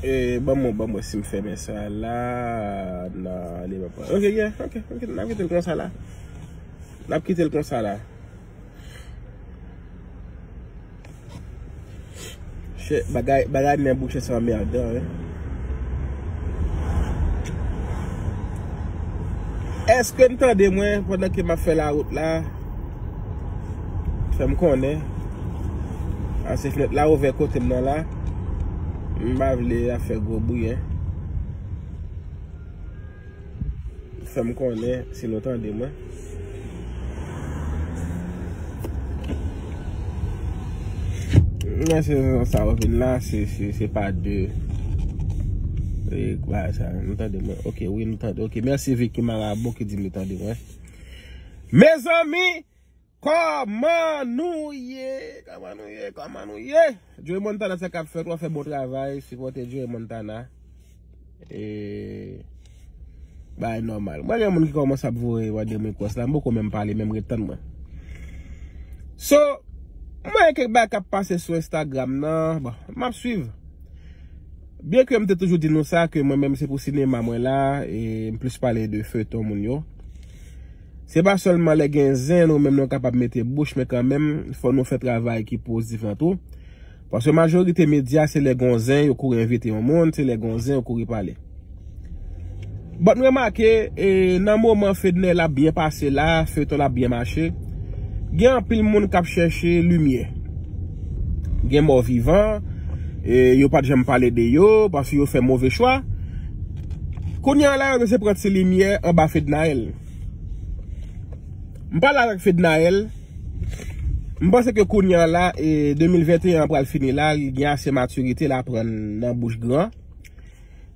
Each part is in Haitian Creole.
E ban mwen ban mwen si m fèmen sa la nan li mwen pa. Ok ye ok ok nan mwen te l konsa la. Nap kitel konsa la. Bagay men bouche sa anmerdan wi. Eske nou tande mwen pandan ke map fè la wout la? Fèm konnen. Ase fèt la ouvè kote mnen la. Mba vle a fè gwo bouye. Fèm konnen si nou tande mwen. Mwen se zan sa ou vin la se se se pa de e kwa sa nou tande mwen ok wi nou tande ok mèsi viki marabou ki di nou tande mwen mezanmi. Kòman nou ye kòman nou ye kòman nou ye Joe Montana sa kap fèt wap fè bon travay sipòte Joe Montana e bagay nòmal mwen gen moun ki kòmanse ap voye mande m rekwès la m poko menm pale menm ret tann mwen so mwen gen kèk bagay kap pase sou Instagram nan bon map swiv byen ke m te toujou di nou sa ke mwen menm se pou sinema mwen la e m plis pale de feyton moun yo. Se pa sèlman lè gen zen nou menm nou kapab mete bouch men kanmenm fò nou fè travay ki poztif lan tou. Paske majorite medya se lè gon zen yo kouri envite yon moun, se lè gon zen yo kouri pale. But m remake e nan moman Fednel ap byen pase la, feyton ap byen mache, gen anpil moun kap chèche limyè. Gen mò vivan e yo pat janm pale de yo paske yo fè move chwa. Kounye a la yo mesye pran ti limyè anba Fednaelle. M pale avèk Fednaelle, m panse ke kounye a la, 2021 an pral fini la, li gen ase matirite, l aprann nan bouch gran,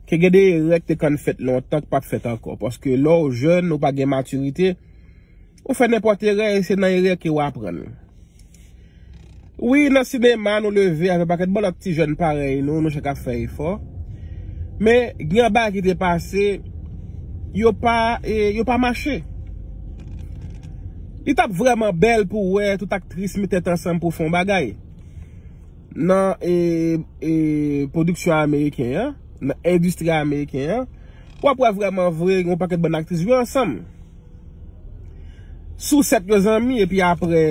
ke gen de erè ki te konn fèt lontan ki pap fèt ankò. Paske lè w jèn, ou pa gen matirite. Ou fè nenpòt erè e se nan erè ke ou aprann. Wi nan sinema nou leve avèk pakèt bon lòt ti jèn parèy nou, nou chak ap fè efò. Men gen yon bagay ki te pase, yo pa e yo pa mache. Li tap vrèman bèl pou wè tout aktris met tèt ansanm pou fon bagay. Nan e e pwodiksyon ameriken an, nan endistri ameriken an, wap wè vrèman vre yon pakèt bon aktris jwe ansanm. Sousèt yo zanmi epi aprè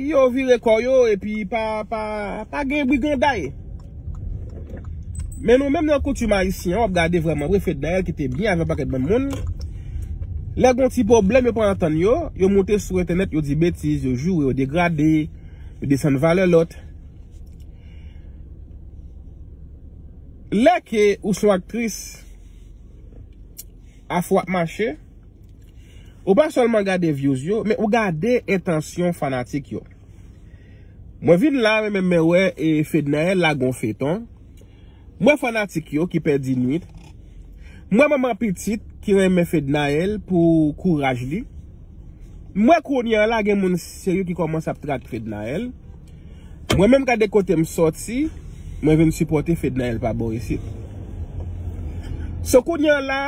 yo vire kò yo epi pa gen briganday. Men nou menm nan koutim ayisyen an wap gade vrèman vre Fednaelle ki te byen avèk yon pakèt bann moun lè gon ti pwoblèm yo pa antann yo, yo moute sou entènèt yo di betiz, yo joure, yo degrade, yo desann valè lòt. Lè ke ou son aktris. Afè w ap mache, ou pa sèlman gade vyouz yo, men ou gade entansyon fanatik yo. Mwen vin la men mwen wè Fednaelle lage yon feyton, m wè fanatik yo ki pèdi nwit, m wè manman pitit ki renmen Fednaelle pou kouraj li. M wè kounya la gen moun serye ki kòmanse ap track Fednaelle. Mwen menm gade kote m sòti, mwen vin sipòte Fednaelle pa bò isit. So kounya la,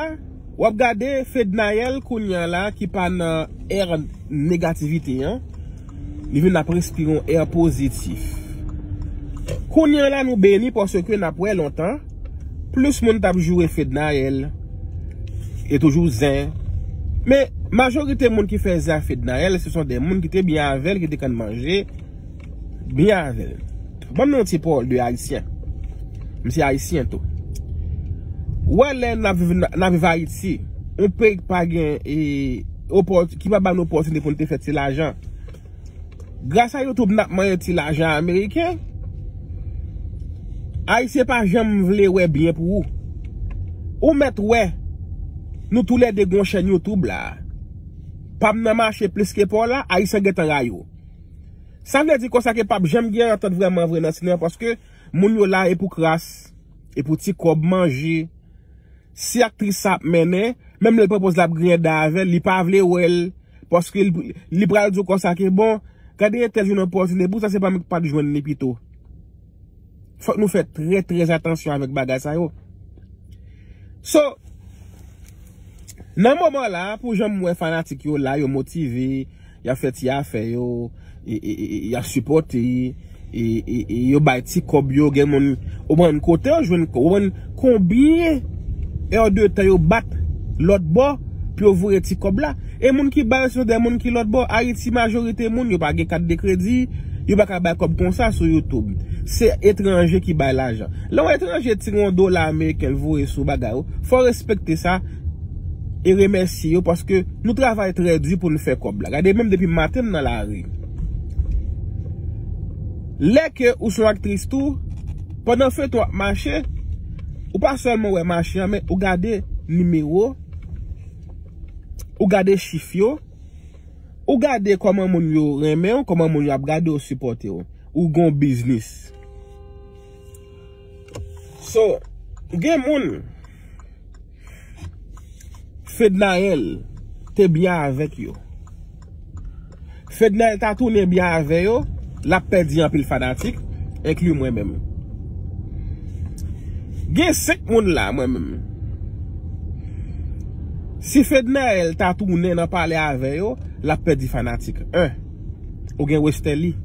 w ap gade Fednaelle kounya la ki pa nan ère negativite an. Li menm nap respire yon air positif. Kounya la nou beni paske nap wè lontan plis moun tap joure fednaelle e toujou zen men majorite moun ki fè zen ak fednaelle se son de moun ki te byen avèl ki te konn manje byen avèl. Banm yon ti pawòl de ayisyen. M se ayisyen tou. Ou wè lè nap viv ayiti yon peyi ki pa gen e. ki pa ba nou opòtinite pou n te fè ti lajan. Grasa YouTube n ap manyen ti lajan ameriken. Ayisyen pa janm vle wè byen pou ou. Ou mèt wè nou tou lè 2 gen yon chèn YouTube la. Pa m nan mache plis ke pa w la, Ayisyen gen tan rayi w. Sa vle di konsa ke pa p janm gen antant vrèman vre nan Sinema paske moun yo la e pou kras, e pou ti kòb manje. Si aktris sa ap mennen, menm lèl pran poz la ap griyen dan avèl, li pa vle wèl, paske li pral diw konsa ke bon, gade entèl jwenn opòtine, pousa se pa mwen ki pat jwenn li pito. Fòk nou fè trè trè atansyon avèk bagay sa yo. So, nan moman la, pou janm wè fanatik yo la, yo motive. Yap fè ti afè yo, yap sipòte, yo bay ti kòb yo, gen moun, ou konprann, kote yo jwenn, ou konprann, konbyen è de tan yo bat lòt bò pou yo voye ti kòb la. E moun ki bay yo se de moun ki lòt bò. Ayiti majorite moun yo pa gen kat de kredi, yo pa ka bay kòb konsa sou YouTube. Se etranje ki bay lajan. Lè yon etranje tire yon dola ameriken l voye sou bagay ou, fò w respekte sa. e remèsye yo paske nou travay trè di pou nou fè kòb la. Gade menm depi maten m nan lari. Lè ke ou son aktris tou, pandan feyton ap mache, ou pa sèlman wè mache an men ou gade nimewo, ou gade chif yo, ou gade kòman moun yo renmen ou, kòman moun yo ap gade ou, sipòte ou. Ou gon biznis. So gen moun Fednaelle te byen avèk yo. Fednaelle ta tounen byen avè yo, lap pèdi anpil fanatik, enkli mwen menm. Gen 5 moun la mwen menm. Si Fednaelle ta tounen nan pale avè yo, lap pèdi fanatik. 1, ou gen Westerlie.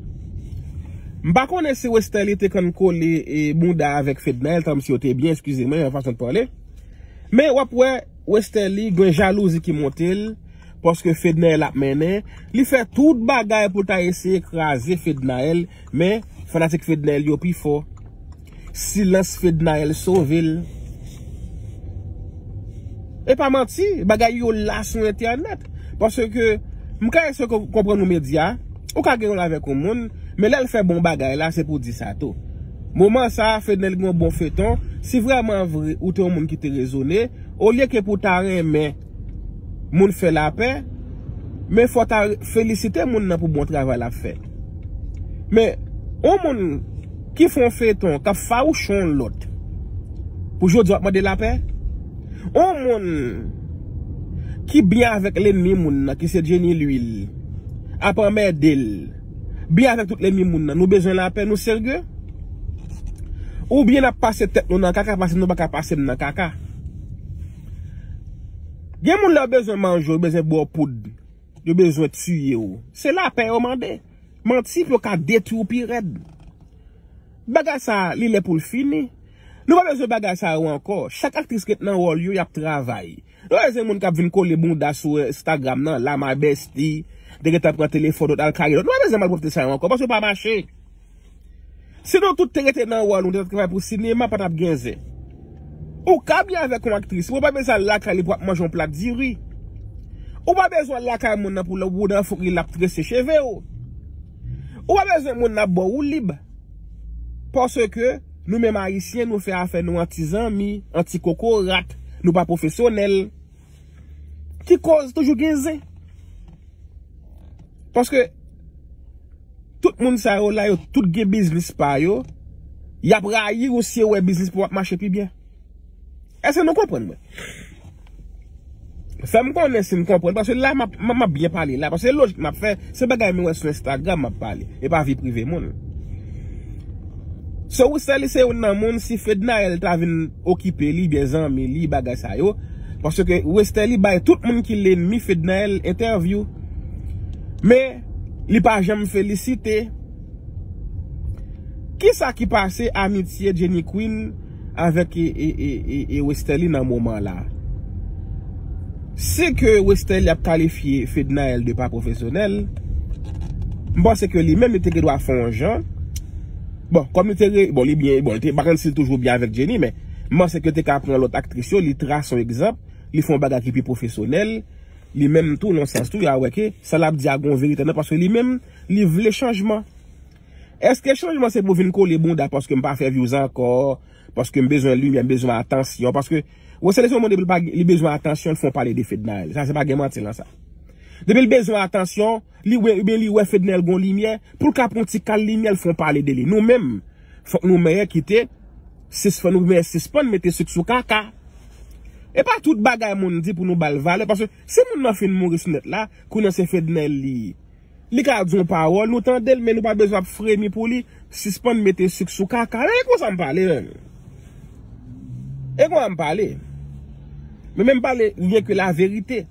M pa konnen si Westerlie te konn kole bouda avèk Fedna el tanm si yo te byen eskize mwen yon fason de pale men wap wè Westerlie gen jalouzi ki monte l paske Fedna el ap mennen li fè tout bagay pou l ta eseye kraze Fedna el men fanatik Fedna el yo pi fò. Silans fednaelle sove l. Epa manti bagay yo la sou entènèt paske ke m ka eseye konprann yon medya ou ka gen yon avèk yon moun men lèl fè bon bagay la se pou di sa tou moman sa fednel gen yon bon feyton si vrèman vre ou te yon moun ki te rezone olye ke pou ta renmen moun fè lapè, men fò ta felisite moun nan pou bon travay lap fè. Men, yon moun ki fè yon feyton kap fawouchon yon lòt, pou jodi wap mande lapè? Yon moun ki byen avèk lenmi moun nan ki se Jenny Lhuilli, ap anmède l, byen avèk tout lenmi moun nan, nou bezwen lapè, nou serye? Oubyen nap pase tèt nou nan kaka paske nou paka pase m nan kaka? Gen moun lè yo bezwen manje w, yo bezwen ba w poud, yo bezwen tiye w. Se lapè yo mande. Manti pou yo ka detwi w pi rèd. Bagay sa a, li lè pou l fini. Nou pa bezwen bagay sa yo ankò. Chak aktris ret nan wòl yo, y ap travay. Nou pa bezwen moun k ap vin kole bounda sou Instagram nan, la my bestie, te gentan pran telefòn lòt al kare lòt. Nou pa bezwen malpwòpte sa yo ankò paske yo pa mache. Si nou tout te rete nan wòl nou te travay pou sinema pa tap gen zen. Ou ka byen avèk yon aktris men ou pa bezwen al lakay li pou ap manje yon plat diri. Ou pa bezwen al lakay moun nan pou lè ou nan fouk li lap trese chevew. Ou pa bezwen moun nan ap baw woulib. Paske nou menm ayisyen nou fè afè nou an ti zanmi, an ti kokorat, nou pa pwofesyonèl. Ti koz toujou gen zen. Paske tout moun sa yo la yo tout gen biznis pa yo. Y ap rayi ou si yo wè biznis pa w ap mache pi byen. Eske nou konprann mwen? Fè m konnen si m konprann. Paske la m ap byen pale la. Paske lojik m ap fè. Se bagay mwen wè sou Instagram map pale, e pa vi prive moun. So ou sèli se youn nan moun si Fednaelle ta vin okipe li byen zanmi li bagay sa yo, paske Westerlie bay tout moun ki lenmi Fednaelle entèvyou. Men li pa janm felisite. Kisa ki pase amitye Jenny Queen? avèk e Westerlie nan moman la. Se ke Westerlie ap kalifye Fednaelle de pa pwofesyonèl, m panse ke li menm li te gen dwa fè yon jan, bon, kòm li te re, bon, li byen, bon, m pa konn si li toujou byen avèk Jenny, men, m panse ke yo te ka pran lòt aktris yo, li trase yon egzanp, li fè yon bagay ki pi pwofesyonèl, li menm tou, nan yon sans tou, ya wè ke sa l ap di a gen yon verite nan, paske li menm, li vle chanjman. Eske chanjman se pou vin kole bounda paske m pa fè vyouz ankò, paske m bezwen limyè, m bezwen atansyon, paske Rosselin se yon moun depi l pa li bezwen atansyon l fon pale de Fednaelle. Sa se pa gen manti lan sa. Depi l bezwen atansyon, li wè oubyen li wè Fednaelle gon limyè, pou l ka pran yon ti kal limyè l fon pale de li. Nou menm, fòk nou mèyè kite, sis fò nou mèyè sispann mete sik sou kaka. E pa tout bagay moun di pou nou ba l valè, paske si moun nan fin mouri sou nèt la, kounye an se Fednaelle li ye. Li ka di yon pawòl nou tandel men nou pa bezwen ap fremi pou li, sispann mete suk sou kaka e konsa m pale menm. E konsa m pale. Men menm pale lyen ke la verite.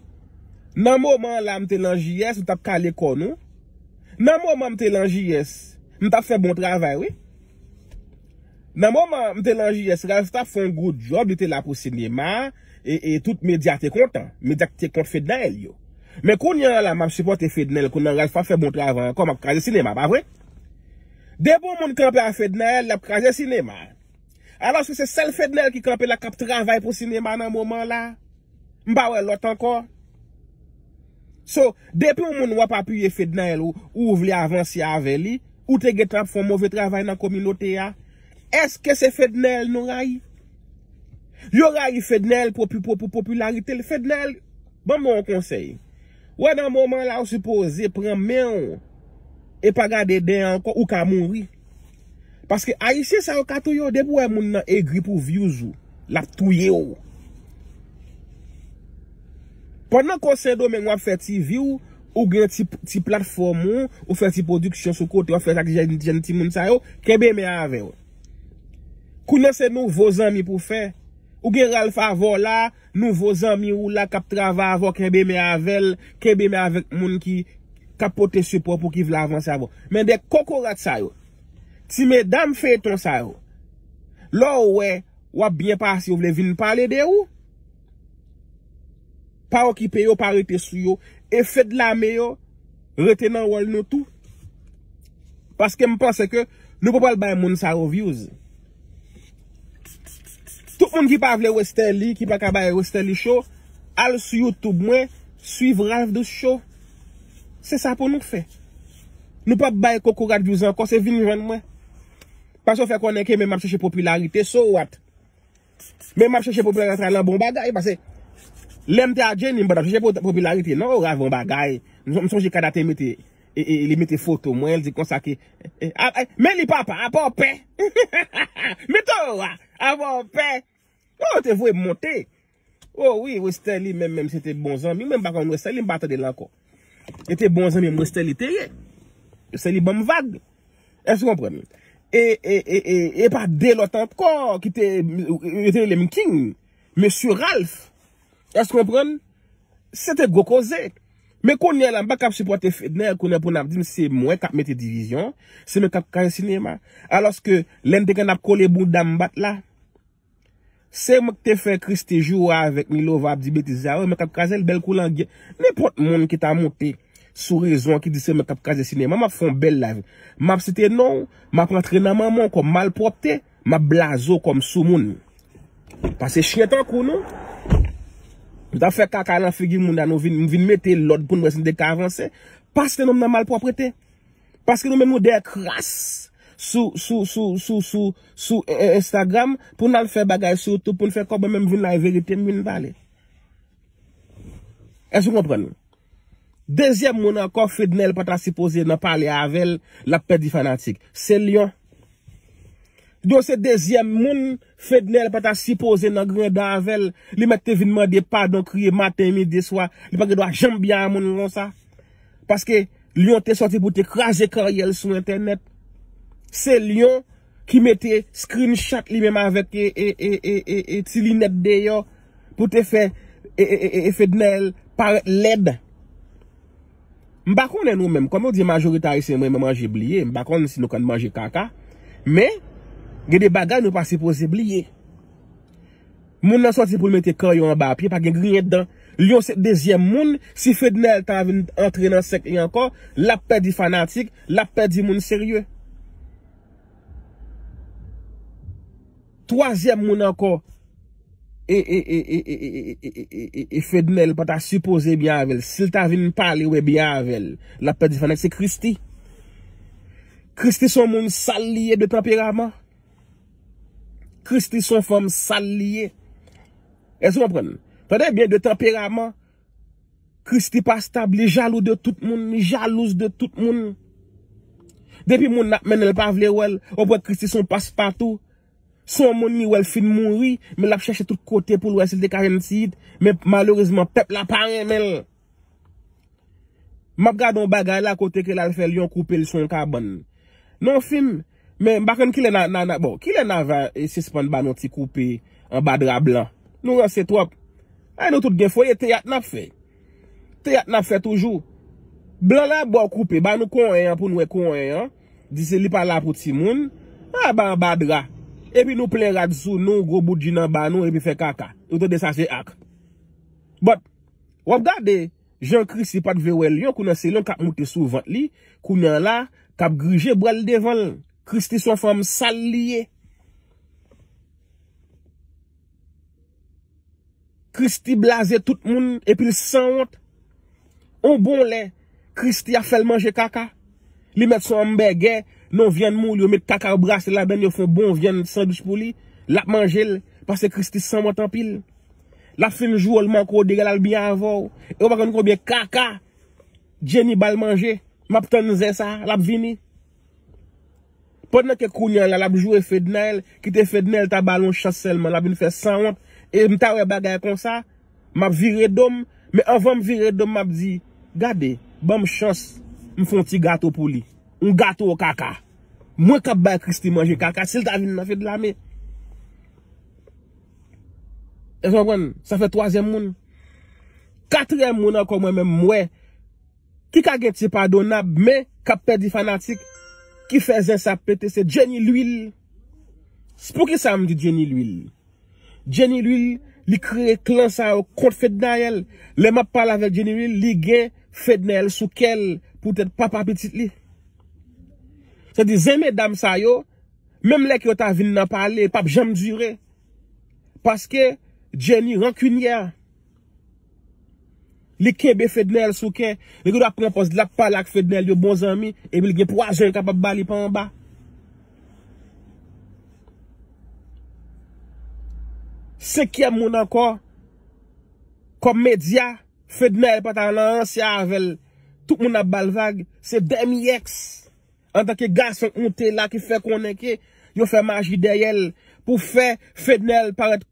Nan moman la m te lan JS ou tap kale kò nou. Nan moman m te lan JS m tap fè bon travay wi. Nan moman m te lan JS Ralph tap fon good job li te la pou sinema. e tout medya te kontan medya ki te kont fednaelle yo men kounye a la map sipote fednaelle kou nan ralph pap fè bon travay ankò map kraze sinema pa vre depi yon moun kanpe a fednaelle lap kraze sinema alòske se sèl fednaelle ki kanpe la kap travay pou sinema nan moman la m pa wè lòt ankò so depi yon moun wap apiye fednaelle ou vle avanse avè li ou te gentan ap fè yon move travay nan kominote a èske se fednaelle nou rayi. Yo rayi Fednaelle pou popilarite l. Fednaelle, ban mwen yon konsèy. Wè nan moman la ou sipoze pran men w e pa gade dèyè ankò ou ka mouri. Paske ayisyen sa yo ka touye w depi w wè moun nan egri pou vyouz ou l ap touye w. Pandan ke w Sendomeng w ap fè ti vi w, ou gen ti platfòm ou, ou fè ti pwodiksyon sou kote w ap fè sa ak jèn timoun sa yo, kenbe men avè w. Kounye se nouvo zanmi pou fè. Ou gen Ralph avè w la, nouvo zanmi ou la kap travay avè w kenbe men avè l, kenbe men avèk moun ki kap pote sipò pou ki vle avanse avè w. Men de kokorat sa yo, ti medam feyton sa yo, lè w wè wap byen pase yo vle vin pale de ou. Pa okipe yo, pa rete sou yo. E Fedlame yo. Rete nan wòl nou tou. Paske m panse ke nou pa pral bay moun sa yo vyouz. Tout moun ki pa vle Westerlie, ki pa ka bay Westerlie show, al sou YouTube mwen, swiv Ralph Douce show. Se sa pou nou fè. Nou pa bay kokorat vyouz ankò, se vin jwenn mwen. Paske w fè konnen ke men m ap chèche popilarite, so what? Men map chèche popilarite nan bon bagay pase lèm te a Jenny m patap chèche popilarite nan ou ralvan bagay m sonje kada te mete li mete foto mwen li di konsa ke men li papa apa w pè hahahaa men to a apa w pè oh ou te voye m monte oh wi westerlie menm menm se te bon zanmi mwen m pa konn westerlie m pa tande l ankò. Yo te bon zanmi mwen Stanley te ye. Stanley banm vag. Èske ou konprann? E, e, e, e, e pa de lòt ankò ki te, yo te rele m King. Mesye Ralph. Èske ou konprann? Se te gwo koze. Men kounye la m pa kab sipòte Fedner kounye pou n ap di m se mwen k ap mete divizyon. Se mwen k ap kraze sinema. Alòske lè n te gen n ap kole bouda m bat la. Se mwen ki te fè Christie joure avèk Milova ap di betiz sa yo, mwen kap krazel bèl kou langyèt, nenpòt moun ki ta monte sou rezo an ki di se mwen kap kraze sinema map fè yon bèl live, map site nonw, map rantre nan manmanw kòm malpwòpte, map blaze w kòm soumoun. Pase chyen tankou nou, nou tap fè kaka nan figi moun la nou vin mete lòd poun wè si nou te ka avanse, pa site nonm nan malpwòprete. Paske nou menm nou dèyè kras sou sou sou sou sou sou Instagram pou nal fè bagay sou YouTube poun fè kòb mwen menm vin la e verite m vin pale. Èske ou konprann? Dezyèm moun ankò Fednel pata sipoze nan pale avèl lap pèdi fanatik. Se Lion. Djo se dezyèm moun fednel pata sipoze nan granda avèl li mèt te vin mande padon kriye maten midi e swa li pa gen dwa janm byen a moun konsa paske lion te sòti pou te kraze karyèl sou entènèt se lion ki mete screen shot li menm avèk e ti linèt deyò pou te fè e fednel parèt lèd. M pa konnen nou menm, kòm yo di majorite ayisyen renmen manje bliye, m pa konnen si nou konn manje kaka, men gen de bagay nou pa sipoze bliye. Moun nan sòti pou l mete kan yo anba pye, pa gen griyen dan. Lyon se dezyèm moun, si Fednaelle ta vin antre nan sèk li ankò, l ap pèdi fanatik, l ap pèdi moun serye. Twazyèm moun ankò e Fednel pa ta sipoze byen avè l. Si l ta vin pale ou byen avè l, l ap pèdi fanat. Se Christy. Christy son moun sal li ye de tanperaman. Christy son fanm sal li ye. Èske ou konprann? Tande byen de tanperaman, Christie pa stab li jalou de tout moun li jalouse de tout moun depi moun ap mennenl pa vle wèl ou kwè Christie son pas patou son moun li wèl fin mouri men lap chèche tout kote poul wè sil te ka jwenn ti it men malerezman pèp la pa renmenl map gade yon bagay la kote ke lal fè lion koupel son kabann nan yon film. Men m pa konn kilè na na bon kilè na va sispann ba nou ti koupe anba dra blan nou ranse twòp ay nou tout gen foye teyat nap fè teyat nap fè toujou blan la baw koupe ba nou konyen an pou nou wè konyen an di se li pa la pou timoun a ba anba dra epi nou plen rad sou nou gwo bout jina ba nou epi fè kaka ou tande sa se ak but wap gade. Jan Christie pat vle wè Lion kou nan se Lion kap moute sou vant li kounya la kap grije bwal devanl Christie son fanm sal li ye Christie blaze tout moun epil sanwont on bon lè Christie ap fèl manje kaka li mèt son anmbègè non vyann moul yo met kaka yo brase ladann yo fon bon vyann sandwich pou li lap manjel paske Christie sanwont anpil. Lap fin jwol manke w degel al byen avèw e ou pa konn konbyen kaka Jenny bal manje map tann zen sa lap vini pandan ke kounya la lap jwe Fednaelle kite Fednaelle ta bal yon chans sèlman lap vin fè sanwont e m ta wè bagay konsa map vire do m men anvan m vire do m map di gade banm chans m fon ti gato pou li yon gato kaka mwen kap bay Christie manje kaka sil ta vin nan Fedlame. Èske nou konprann? Sa fè twazyèm moun. Katriyèm moun ankò mwen menm m wè ki ka gen ti padonab men k ap pèdi fanatik ki fè zen sa pete se Jenny Lwil. S pou ki sa m di Jenny Lwil? Jenny Lwil li kreye klan sa yo kont Fednaelle. Lè m ap pale avèk Jenny Lwil li gen Fednaelle sou kè l poutèt papa pitit li. Sa vle di zen medam sa yo. Menm lè ke yo ta vin nan pale pap janm dure. Paske Jenny rankinyè. Li kenbe Fednel sou kè. Li gen dwa pran pòz lap pale ak Fednel yo bon zanmi. Epi li gen pwazon li kapab bali pa anba. Senkyèm moun ankò. Kòm medya. Fednel pa ta nan an se avèl. Tout moun ap bal vag. Se dèmi ex. Antanke gason k moute la ki fè konnen ke yo fè maji dèyè l pou fè Fednel parèt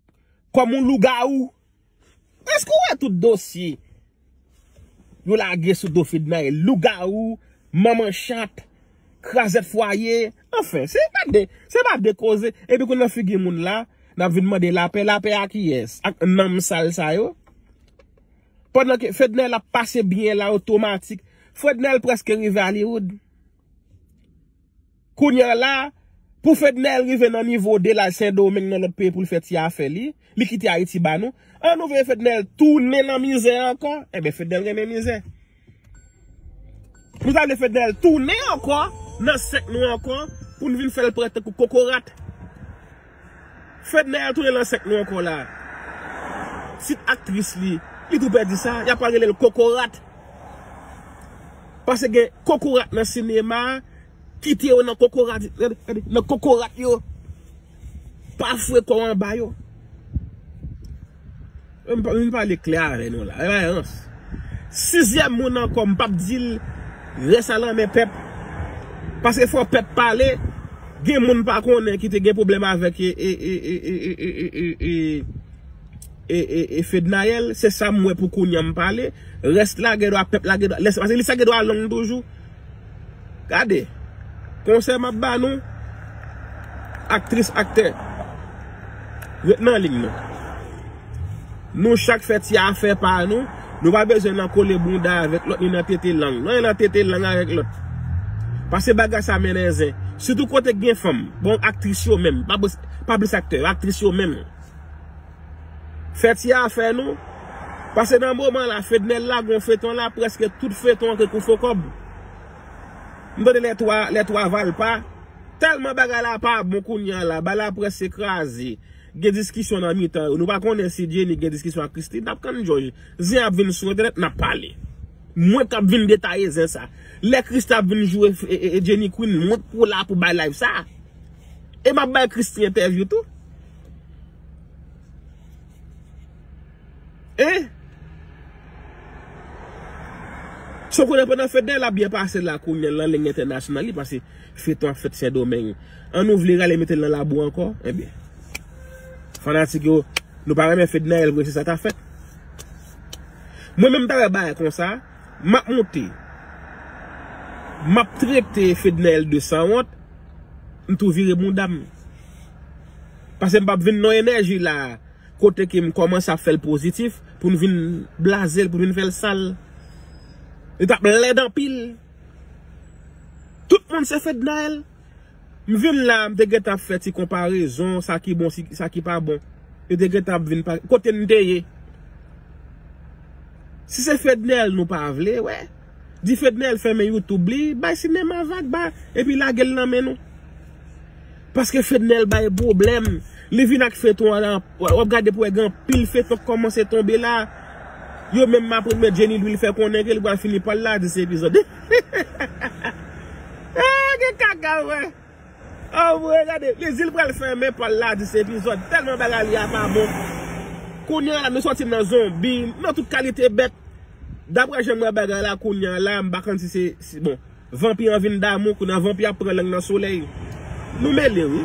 kòm yon lougawou. Èske w wè tout dosye yo lage sou do Fednaelle? Lougawou, manman chat, krazèt fwaye. Anfen, se pa de, se pa de koze. Epi kou nan figi moun la, n ap vin mande lapè. Lapè a kiyès? Ak nanm sal sa yo? Pandan ke Fednel ap pase byen la otomatik. Frednel preske rive Hollywood. Kounya la, pou Fednel rive nan nivo Delage Sendomeng nan lòt peyi pou l fè ti afè li, li kite Ayiti ba nou, an nou vle Fednel tounen nan mizè ankò? Enben Fednel renmen mizè. Nou ta vle Fednel tounen ankò nan sèk nou ankò pou nou vin fèl parèt tankou kokorat. Fednel tounen nan sèk nou ankò la. Tit aktris li, li tou pèdi sa, yap pral relel kokorat. Pase gen kokorat nan sinema, kite yo nan kokorat yo. Pa fwe kòw anba yo. Mwen pale klè avè nou la. Ewa yans. Sizyèm moun ankò m pap dil rès a lanmen pèp. Paske fò pèp pale. Gen moun pa konnen ki te gen pwoblèm avèk e fednaelle. Se sa m wè pou kounye an m pale. Rès la gen dwa pèp la gen dwa. Lè sa gen dwa long toujou. Gade Konsèy map ba nou Aktris aktè Ret nan liy nou Nou chak fè ti afè pa nou Nou pa bezwen nan kole bounda avèk lòt ni nan tete lang non e nan tete lang avèk lòt Pase bagay sa mennen zen Sitou kote gen fanm Bon aktris yo menm Pa plis aktè yo aktris yo menm. Fè ti afè nou. Pase nan moman la fednel lage yon feyton la preske tout feyton an ke kou fo kob m tande lè 3 lè 3 valpa telman bagay la pa bon kounya la bagay la preske kraze gen diskisyon nan mitan yo nou pa konnen si Jenny gen diskisyon ak Christie nap tann jòj zen ap vin sou entènèt nap pale mwen kap vin detaye zen sa lè Christie ap vin jwe Jenny Queen mwen pou la pou bay live sa e map bay Christie entèvyou tou. Hein? So konnen pandan fèt dèy la ap byen pase la kounye l lan leng entènasyonal li pase feyton ap fèt sendomeng an nou vle rale mete l nan labou ankò enbyen fanatik yo nou pa renmen fednaelle vre se sa ka fèt mwen menm m ta wè bagay konsa m ap monte m ap trete fednaelle de sanwont m tou vire bounda m. Pasem pap vin non enèji la kote ke m kòmanse ap fèl pozitif pou n vin blazel pou n vin fèl sal li tap lèd anpil tout moun se Fednaelle m vin la m te gentan ap fè ti konparezon sa ki bon sa ki pa bon yo te gentan ap vin kote m te ye si se Fednaelle nou pa vle wè Di Fednel fèmen YouTube li, bay sinema vag ba epi lage l nan men nou. Paske Fednel bay pwoblèm, li vin ak feyton an, wap gade pou wè gen anpil feyton k kòmanse tonbe la. Yo menm ma premye Jenny Louis li fè konnen ke li pral fini pa l la 10 epizòd. Gen kaka vre! Anmweyy gade Brésil pral fèmen pal la 10 epizòd tèlman bagay li a pa bon Kounya la nou sòti nan zonbi nan tout kalite bèt Daprè janm wè bagay la kounya la m pa konn si se bon Vanpi an vin damou kounya vanpi ap pran lang nan solèy Nou mele wi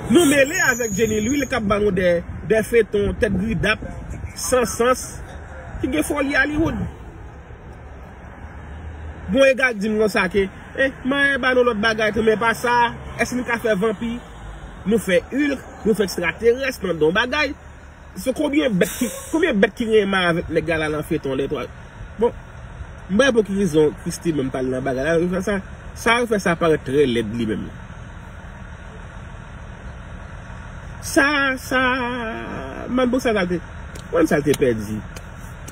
Nou mele avèk Jenny Lwil kap ba nou de feyton tèt gridap san sans ki gen foli Hollywood. Gon e gag dim konsa ke e maye ba nou lot bagay tou men pa sa eske nou ka fè vanpi nou fè hulk nou fè ekstraterès nan don bagay se konbyen bèt ki konbyen bèt ki gen maye avèk nèg la la nan feyton lè twa bon m pa wè pou ki rezon Christie menm pale nan bagay la yo fè sa sa yo fè sa parèt trè lèd li menm sa sa manbo sa sa te manbo sa te pèdi.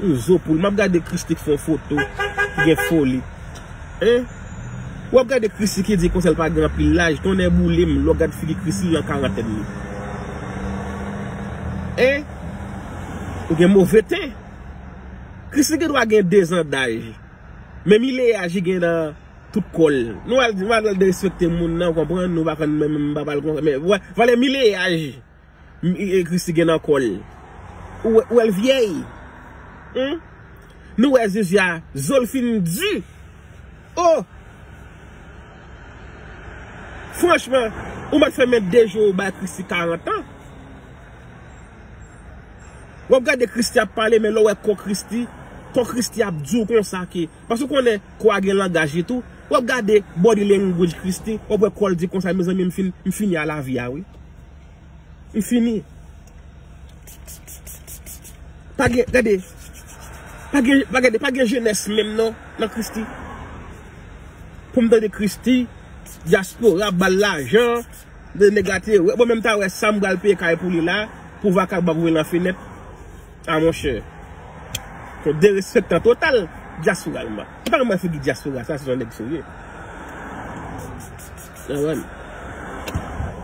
Ou zo poul map gade christi k fon foto ki gen foli hein ou ap gade christi ki di konsèl pa gen anpil laj tonnè boulem lè w gad figi christi lan karantèn li hein ou gen move ten christi gen dwa gen 2 zan daj men mi lè aji gen nan tout kòl nou al di nou al derespekte moun nan ou konprann nou pa konn menm m pa pal konsa men wè valè mi lè aji. Mph Christie gen nan kol. Ou wel vyey Humm Nou we zuzu a zol fin du Oh Franchman Ou met fe men 2 jou ou bay christie 40 ans Wap gade christie ap pale men le w we ko christie Ko christie ap du konsa ke Paske ou konnen ko a gen langaj li tou Wap gade body language christie Wap we kol di konsa mezanmi m fini a la vi a wi. M fini. Pa gen, gade, pa gen, pa gade, pa gen jenès menm non nan Christie. Pou m tande Christie, diaspora ap ba l lajan, de nèg la te wè, bon men m ta wè sa m pral peye kay pou li la, pou vakabon ap voye nan fenèt. A mon chè. Son derespektan total diaspora l m pa. M pa janm wè figi diaspora sa, se yon nèg serye. Nawèl.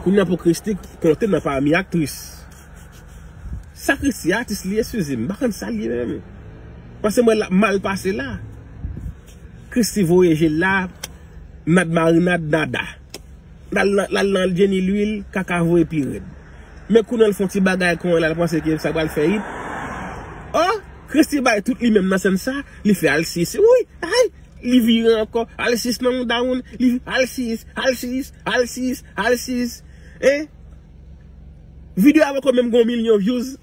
Kounye a pou Christie konte nan pami aktris. Sa Christie a atis li ye suzie m pa konn sal ye menm. Pase m wè lap mal pase la. Christie voye jel la nad marinad nada. Lal nan jenny lwil kaka voye pi red. Men kounye l fon ti bagay kon lal panse ke sa pral fè it. Oh Christie bay tout li menm nan sèn sa li fè alsye se wouyy ayy. Li vire ankò, al sis nan moudaw moun, li vire, al sis, al sis, al sis, al sis, hein. Video a poko menm gen yon milyon vyouz.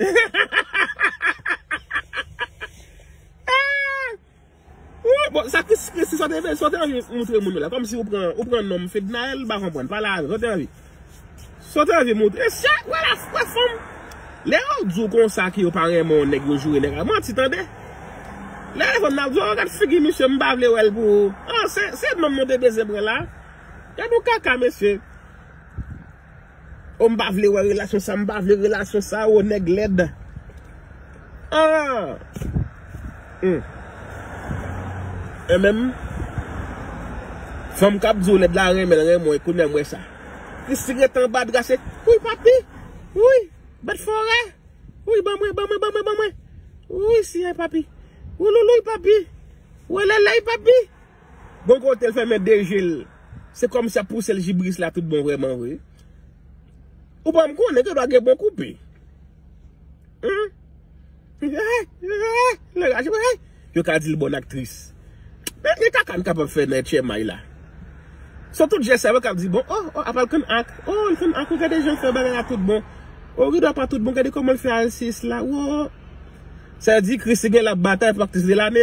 Bon, sa Christie, Christie, sa w te anvi moutre moun yo la, kòmsi ou pran, ou pran nonm Fednaelle, m pa konprann, pale avè m, sa w te anvi? Saw ta vle moutre se ak wè la wè fanm lè yo diw konsa ke yo pa renmenw nèg yo joure nèg la manti tande lè fanm nan ap diw oh gad figi misye mpa vle wèl pou ou oh se nonm nou te bezwen pran la gad yon kaka mesye oh mpa vle wè relasyon sa mpa vle relasyon sa oh nèg lèd. Aah Hum Hum MM Fanm kap diw lèd la renmenl renmen w kounya m wè sa Christie ret anba dra se Wouyy papi Wouyy bèt forè Wouyy ban mwen ban mwen ban mwen ban mwen Wouyy siyay papi Wouloulouy papi Woleley papi Bon kote l fèmen 2 je l Se kòmsi ap pousel jibris la tout bon vrèman vre Ou banm konnen gen dwa gen bon koupe. Yo ka di l bon aktris. Men ki kaka n kapab fè nan etchèmay la. Sou tout jès sa yo kap di bon oh oh apa l konn ak oh l konn ak oh gade jan l fè bagay la tout bon. Oh rido a pa tout bon gade kòman l fè alsiyis la oh. Sa vle di Christie genlè ap batay pou aktris de lane.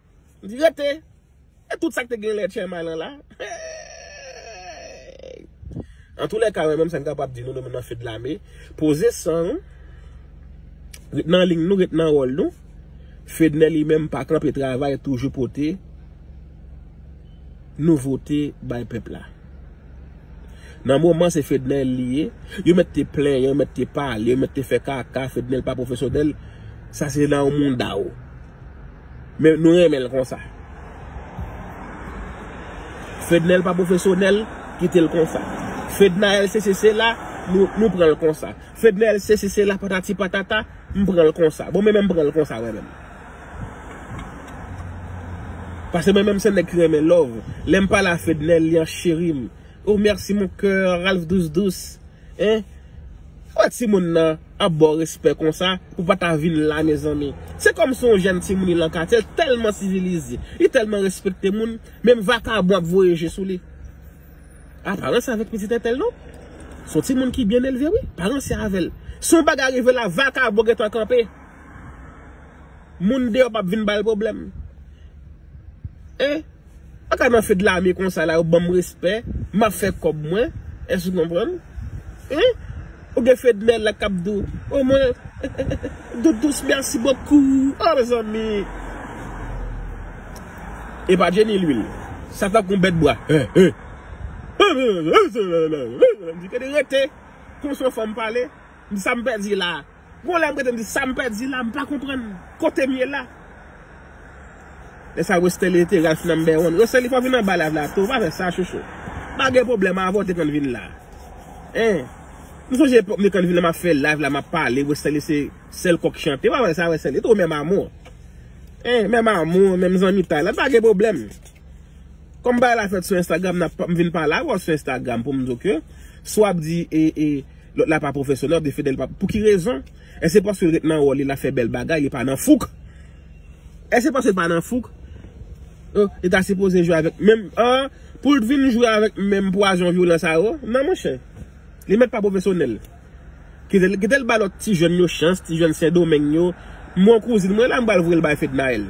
Li rete. E tout sa ki te gen lè Tchèmay lan la. Eeeeey. Antoulèka mwen menm sa m kapab di nou nou menm nan Fedlame, poze san nou, ret nan ling nou, ret nan wòl nou. Fednè li menm pa kanpe travay toujou pote nouvote bay pèp la. Nan moman se Fednè li ye. Yo mèt te plenyen, yo mèt te pale, yo mèt te fè kaka, Fednè pa pwofesyonèl. Sa se nan w mouda w. Men nou renmen l konsa. Fednel pa pwofesyonèl, kite l konsa. Fednaelle sesi sela, nou pran l konsa. Fednel sesi sela patati patata, m pran l konsa. Bon men men m pran l konsa mwen menm. Pase mwen menm se nèg ki renmen love. Lè m pale a Fednel li an cheri m. Oh merci mon coeur, Ralph dous dous. Hein Kouman timoun nan ap baw respè konsa pou pa ta vin la mezanmi Se kòm se yon jèn timoun li lan katye l tèlman sivilize li tèlman respekte moun menm vakabon ap voye je sou li A paran se avèk pitit entèl non Se yon timoun ki byen elve wi paran se avèl Si yon bagay rive la vakabon gentan kanpe Moun deyò pap vin bal pwoblèm. Hein Mwen ka nan feu de l'armée konsa la yo banm respè map fè kob mwen Èske ou konprann Hein Ou gen Fednel la kap di w oh mwen Doudous merci beaucoup oh mezanmi Epa Jenny lwil sa tankou yon bèt bwa Hein Hein Mwen di kèt rete Konsè yon fanm pale Sa m pèdi la. Gon lè m rete m di sa m pèdi la m pa konprann kote m ye la. Lè sa Westerlie te Ralph number one Westerlie fè w vin anba live la tou pa fè sa chouchou pa gen pwoblèm avan w te konn vin la hein m sonje epòk m te konn vin la m ap fè live la m ap pale Westerlie se sèl kòk chante pa fè sa Westerlie tou menm amour hein menm amour menm zanmitay la pa gen pwoblèm kòm bagay la fèt sou Instagram m vin pale avè w sou Instagram pou m di w ke sa w ap di e e Lòt la pa pwofesyonèl de Fedel pa Pou ki rezon? Èske se paske l ret nan wòl li lap fè bèl bagay li pa nan fouk? Èske se paske l pa nan fouk? Oh li ta sipoze jwe avèk menm oh Pou l t vin jwe avèk menm pwazon vyolan sa yo nan monchè Li mèt pa pwofesyonèl Kite l ba lòt ti jèn yo chans ti jèn sendomeng yo M gon kouzin mwen la m pral voye l bay Fednaelle.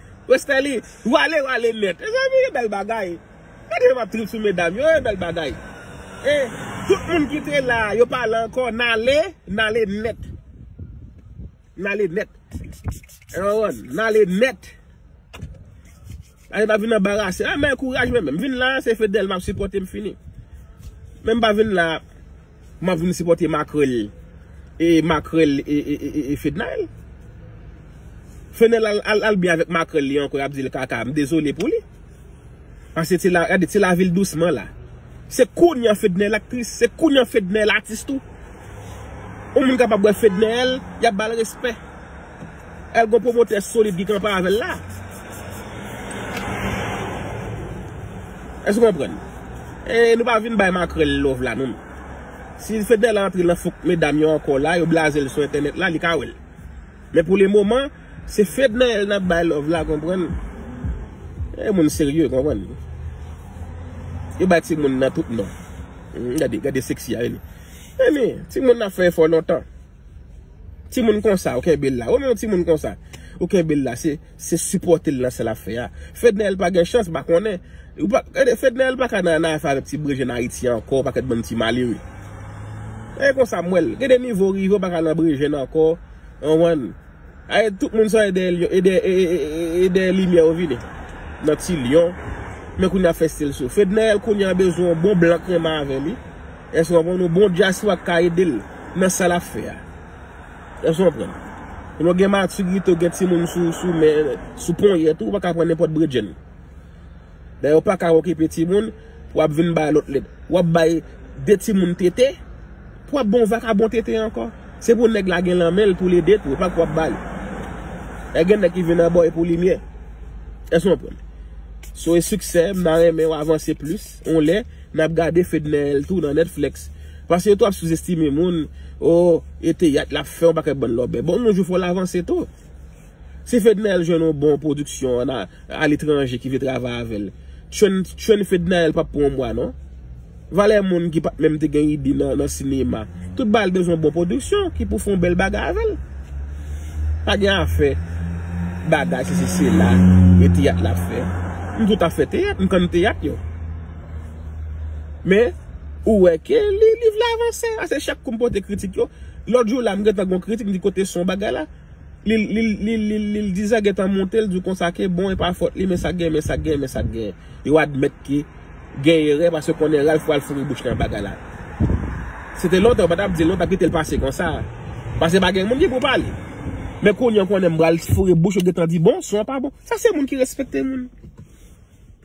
Respè li wale wale nèt. Mezanmi e bèl bagay. Gade jan map trip sou medam yo e bèl bagay. E tout moun ki te la yo pa la ankò nale nale nèt. Nale nèt. Ou konprann nale nèt. Nale pa vin anbarase. A men kouraj men men. M vin la se Fedel map sipòte m fini. Men m pa vin la. Map vin sipote makrel e makrel e fednaelle. Fenel al byen avek makrel li anko yap dil kaka m dezole pou li. Pase ti la gade ti la vil dousman la. Se kounya fednaelle aktris se kounya fednaelle atis tou. Yon moun kapab wè fednaelle yap bal respè. El gon promotè solid ki kanpe avèl la. Èske ou konprann? E nou pa vin bay makrèl love la non. Si Fedel antre nan fok medam yo ankò la, yo blazel sou entènèt la, li ka wèl. Men pou le moman, se Fednaelle nap bay love la konprann. E moun serye konprann. Yo bay ti moun nan tout non. Gade, gade sexy a vini. Emi, ti moun nan fè efò lontan. Ti moun konsa ou kenbe l la. Ou menm yon ti moun konsa ou kenbe l la. Se sipòte l nan sa l ap fè a. Fednaelle pa gen chans, m pa konnen. Fednaelle pa ka nan anay fè avèk ti brejè nan Ayiti ankò, pakèt bann ti malere. E konsa m wè l. Gen de nivo ou rive ou pa ka nan brejè nan ankò. Ou konprann? Ae tout moun sa e dèyè lyon e dèyè limyè yo vini nan ti lyon men kounye a fèstil sou fednaelle kounye a bezwen yon bon blan k renmen avè li èske w konprann yon bon dyaswa k ka ede l nan sa lap fè a èske w konprann lè w gen maturite w gen timoun sou men sou ponyèt ou ou pa ka pran nenpòt bredjenn. Lè yo paka okipe timoun pou wap vin bay lòt lèt. Wap bay 2 timoun tete pou wap bon vakabon tete ankò. Se pou nèg la gen lan menl pou l ede tou, e pa pou wap bal. Lè gen nèg ki vin anba w e pou limyè. Èske nou konprann? So e siksè m ta renmen w avanse plis yon lè nap gade Fedneel tou nan Netflix. Pase yo tou ap souzestime moun, oh e teyat lap fè yon pakèt bann lòbèy. Bon yon jou fò l avanse tou. Si Fednaelle jwenn yon bon production an a l'étranger ki vle travay avèl Trèn Fednaelle pap pran yon mwa non Valè moun ki pat menm te gen ide nan sinema tout bagay bezwen yon bon production ki pou fè yon bèl bagay avèl Pa gen afè bagay sesi sela e teyat lap fè M tou ta fè teyat m konn teyat yo Men ou wè ke liv la avanse ase chak kou m pote kritik yo Lòt jou la m gentan gon kritik m di kote son bagay la. Li l dizè gentan monte l di w konsa ke bon e pa fòt li men sak gen men sak gen men sak gen yo admèt ke gen erè paske konnen Ralph pral foure bouch li nan bagay la se te lontan yo pa tap di l non yo tap kite l pase konsa paske pa gen moun ki pou pale men kounye yo konnen pral foure bouch yo gentan di bon son an pa bon sa se moun ki respekte moun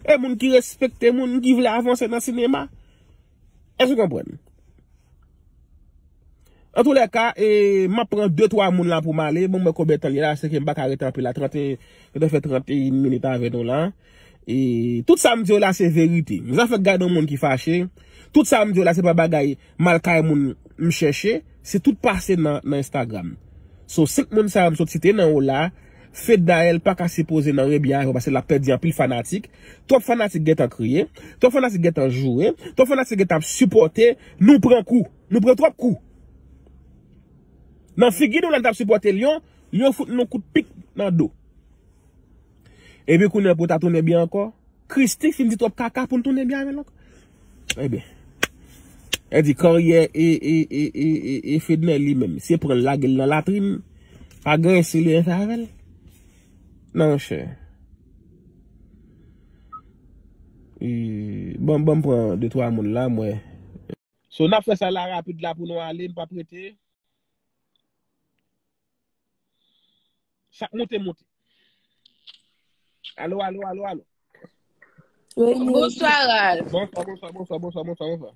e moun ki respekte moun ki vle avanse nan sinema. Èske w konprann? An tou lè ka, e m ap pran de twa moun la pou m ale, pou m wè konbyen tan li ye la, se ke m pa ka rete anpil la, trante, m te fè trante e yn minit avè nou la. E tout sa m di w la se verite. M zafè k gade yon moun ki fache, tout sa m di w la se pa bagay mal kay moun m chèche, se tout pase nan Instagram. So 5 moun sa yo m sot site nan w la, Fed Naël paka sipoze nan rebi a yo paske lap pèdi anpil fanatik, twòp fanatik gentan kriye, twòp fanatik gentan joure, twòp fanatik gentan ap sipòte, nou pran kou, nou pran twòp kou nan figi nou lè nou tap sipòte Lion, Lion fout nou kout pik nan do. Epi kounye pou ta tounen byen ankò, Christie fin di twòp kaka poun tounen byen avèl ankò. Ebyen. E di karyè e Fedner li menm. Se pran lage l nan latrin. Pa gen yon seli yon favèl. Nan yon chè. E bon bon pran de twa moun la mwen. So nan fè sa la rapid la pou nou ale m pa prete. Sa k moute moute. Alo, alo, alo, alo. Bonswa, Ralph. Bonswa, bonswa, bonswa, bonswa, bonswa, bonswa.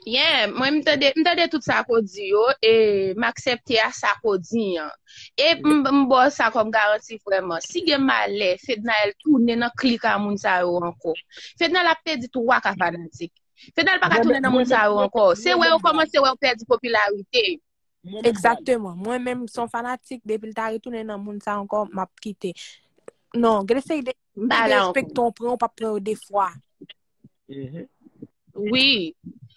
Yeah, mwen m tande, m tande tout sa ko di yo, e m aksepte a sa ko di an. E m m bo sa kom garanti vreman. Si gen male, Fednaelle tounen nan klik a moun sa yo anko. Fednaelle ap pedi 3 ka fanatik. Fednaelle pa ka tounen nan moun sa yo anko. Se wè yo komanse wè yo pedi popilarite. Mwen menm sa. Exactement. Mwen menm son fanatik depi l ta retounen nan moun sa ankò map kite. Non, gen de seri de M pa la ankò. respecto ou pran ou pap pran yo 2 fwa. Mhm. Wi.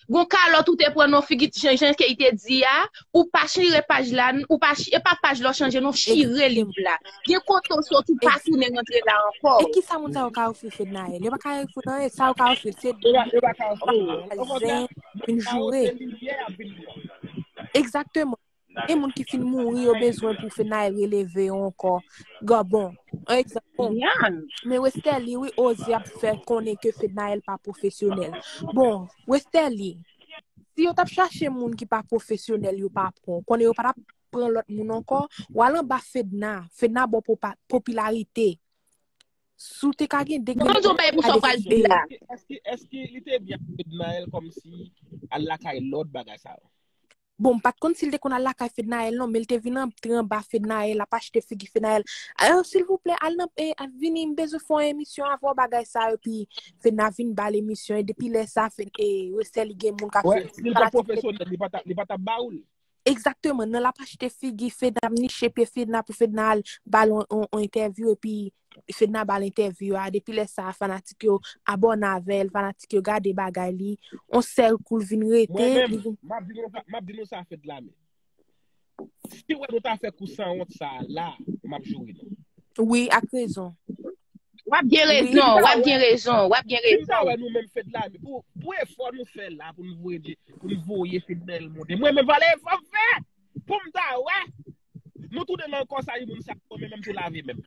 Gon kalòt ou te pran non figi t jan jan key te di a, ou pa chire paj la n, ou pa chi e pa paj la w chanje non chire liv la. Gen kote w sot ou pa tounen rantre la ankò. E kisa moun sa yo ka ofri Fednaelle? Yo pa ka ofri l anyen, sa yo ka ofri l se Yo pa yo pa ka ofri l anyen. Okontrè, zen, moun vin sa yo joure. se livyè y ap vin Exactement gen moun ki fin mouri yo bezwen pou fenay releve yo ankò gan bon an egzanp bon men westerlie wi ozi ap fè konnen ke fednaelle pa profesyonèl bon westerlie si yo tap chache moun ki pa profesyonèl yo pa pran w konnen yo pa tap pran lòt moun ankò wal anba fedna fedna baw popilarite Si w te ka gen 2 kèlè pou w ta desizyon sa. Eske li te byen ak Fednaelle komsi al lakay lòt bagay sa yo? Bon m pat konn si l te konn al lakay Fednaelle non men l te vin antre anba Fednaelle ap achte figi Fednaelle Alò silvouplè al nan vini m bezwen fè yon emisyon avè w bagay sa yo epi Fedna vin ba l emisyon e depi lè sa Fed e resèl li gen moun k ap fè l. Wè si l te pwofesyonèl li pa tap ba ou l. Exactement nan lap achte figi fedna ap niche pye fedna pou fedna al bal on entèvyou epi fedna bal entèvyou a depi lè sa fanatik yo abòne avèl fanatik yo gade bagay li on sèl kou l vin rete Mwen menm li vin map di nou sa map di nou sa fedna menm si wè nou ta fè kou sanwont sa la map joure nou. Wi ak rezon. Wap gen rezon, wap gen rezon, wap gen rezon. Si m ta wè nou menm fed la, pou e fò nou fè la pou nou vwe di, pou nou vwe fed la el moun. E mwen menm valè e fò m fè, pou m ta wè. Nou tou de nan kò sa yon moun sa pou mwen menm tou la vi menm.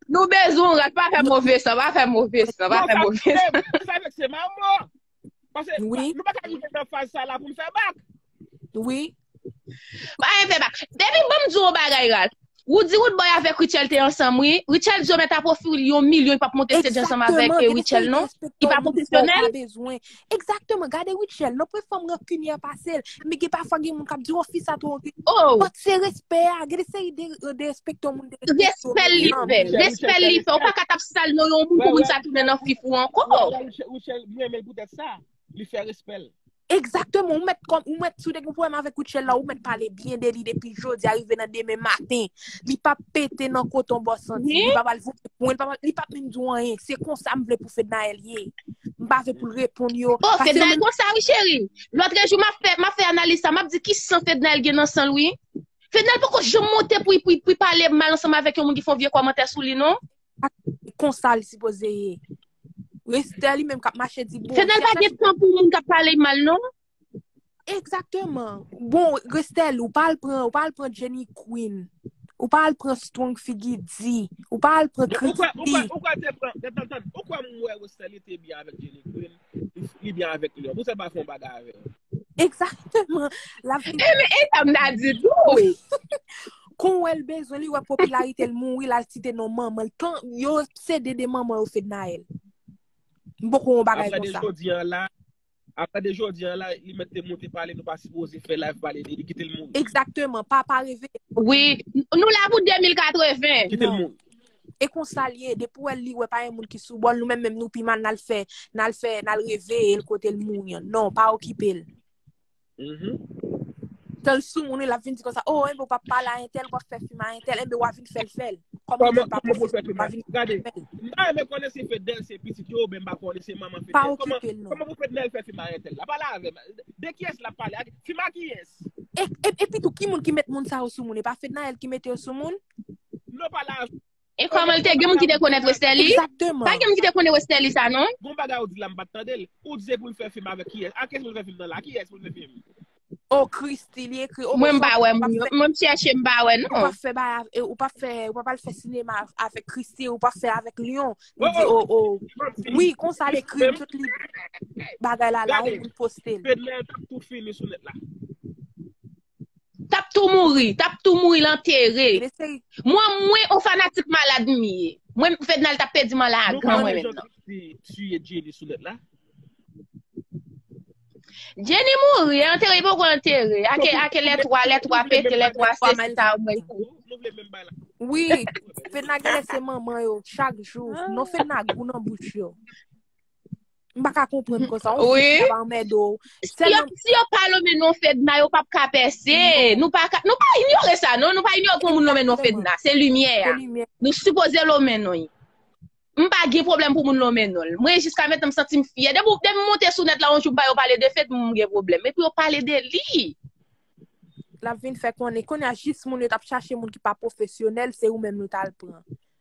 Nou bezwen ou rat pa fè move san, pa fè move san, pa fè move san. Sa vek se mamo. Pase, nou pa ka rive nan faz sa la pou nou fè bak. Wi. Pa gen fè bak. Depi banm di yon bagay Ralph. Roody Roodboy avèk Rutshelle te ansanm wi. Rutshelle di yo mèt ap ofri li yon milyon li pa p monte stage ansanm avèk Rutshelle non. Li pa pwofesyonèl. Exactement. Gade Rutshelle non. Premye fwa m rankinyè pase l. Men gen pafwa gen moun k ap di w fi sa twò rankinyè. But se respè a. Gen de seri de respecto moun. Respè li fè, respè li fè. Ou pa ka tap sal non yon moun pou moun sa tounen nan fif ou ankò. Ou chè mwen men pou tèt sa, li fè respè l. Exactement, ou met kom, ou met sou dek ou pou em avek ou tchel la, ou met pale bien de li depi jodi arive nan demen matin. Li pa pete nan koton bo santi, li pa pale pou pou li pa li pa pin di ou anyen. Se konsa m vle pou Fednael ye. M pa vle pou l reponn yo. Bon, Fednael konsa wi chéri. L'autre jour m'a fait m'a fait analyse ça, m'a dit ki sang Fednael gen nan sang oui. Fedna poko janm monte pou li pale mal ansanm avèk yon moun ki fè yon vye kòmantè sou li non. Konsa li sipoze ye. Restè li menm kap mache di bon. Fedna pa gen tan pou moun kap pale li mal non. Ekzakteman. Bon restè li ou pa al pran ou pa al pran jenny queen. Ou pa al pran strong figi di. Ou pa al pran kritiki. Ou kwè ou kwè ou kwè te pran. Tande tande ou kwè mwen restè li te byen avèk jenny queen. Li byen avèk li. Pou sa l pa fè yon bagay avè l? Egzakteman. L ap vin. E men e sa m ta di tou. Kon wè l bezwen li wè popilarite l mouri l al site non manman l. Tan yo sede de manman yo Fednaelle. M poko wè yon bagay konsa. Aprè de jodi an la. Aprè de jodi an la li mèt te moute pale nou pa sipoze fè live pale de li kite l mouri. Egzakteman. Papa reveye. Wi. Nou la pou 2080. Kite l mouri. E konsa l ye, depi w wè l li wè pa gen moun ki sou bò l, nou menm menm nou pi mal n al fè, n al fè, n al reveye l kote l mouri an. Non, pa okipe l. Tan l sou moun wi l ap vin di konsa, o, enben w pa pale a entèl, w pa fè fim a entèl, enben w a vin fè l fè l. Kòman pou l pa fè l fè l? Gade, m pa renmen konnen se Fednèl se pitit yo oubyen m pa konnen se manman Fednèl. Pa okipe l non. Kòman pou Fednèl fè fim a entèl la? Pale avè m. De kiyès l ap pale? Fim a kiyès? Epitou ki moun ki met moun sa yo sou moun? E pa Fednaelle ki mete yo sou moun? Lò pa la. E kòman l te gen moun ki te konnen Westerlie? Exactement. Pa gen moun ki te konnen Westerlie sa non. Gon bagay ou di la m pat tande l. Ou di se pou l fè film avèk kiyès? Ak kiyès pou l fè film nan la? Kiyès pou l fè film? Oh Christie li ekri oh Mwen m pa wè moun yo. Mwen m chèche m pa wè non. Ou pa fè bay av, ou pa fè, ou pa al fè sinema avèk Christie, ou pa fè avèk Lion. Ou di oh oh. Wi konsa l ekri tout li bagay la la ou poste l. Fednaelle tap tou fini sou nèt la. Tap tou mouri, tap tou mouri lan tere. Mwen mwen on fanatik malad m ye. Mwen fednal tap pedi man la agan mwen men nan. Tuye Jenny sou net la. Jenny mouri, antere li poko antere. Ake ake lè 3, lè 3 pete, lè 3 se si ta ou mwen kou. Wi, fedna genlè se manman yo chak jou. Non fedna gou nan bouch yo. M pa ka konprann kon sa. On fèd nan anmè do. Si yo pa lome non fèd nan, yo pa pa ka pèse. Nou pa inyore sa non. Nou pa inyore kon moun lome non fèd nan. Se limyè ya. Nou sipoze lome non yi. M pa gen problem pou moun lome non l. Mwen jiska mèt nan m santi m fyè. Dèm m monte sou nèt la on jou m pa yo pale de fèd m gen problem. Mè pou yo pale de li. Lap vin fè konnen. Konya jis moun yo tap chache moun ki pa profesyonel se ou menm nou tal pran.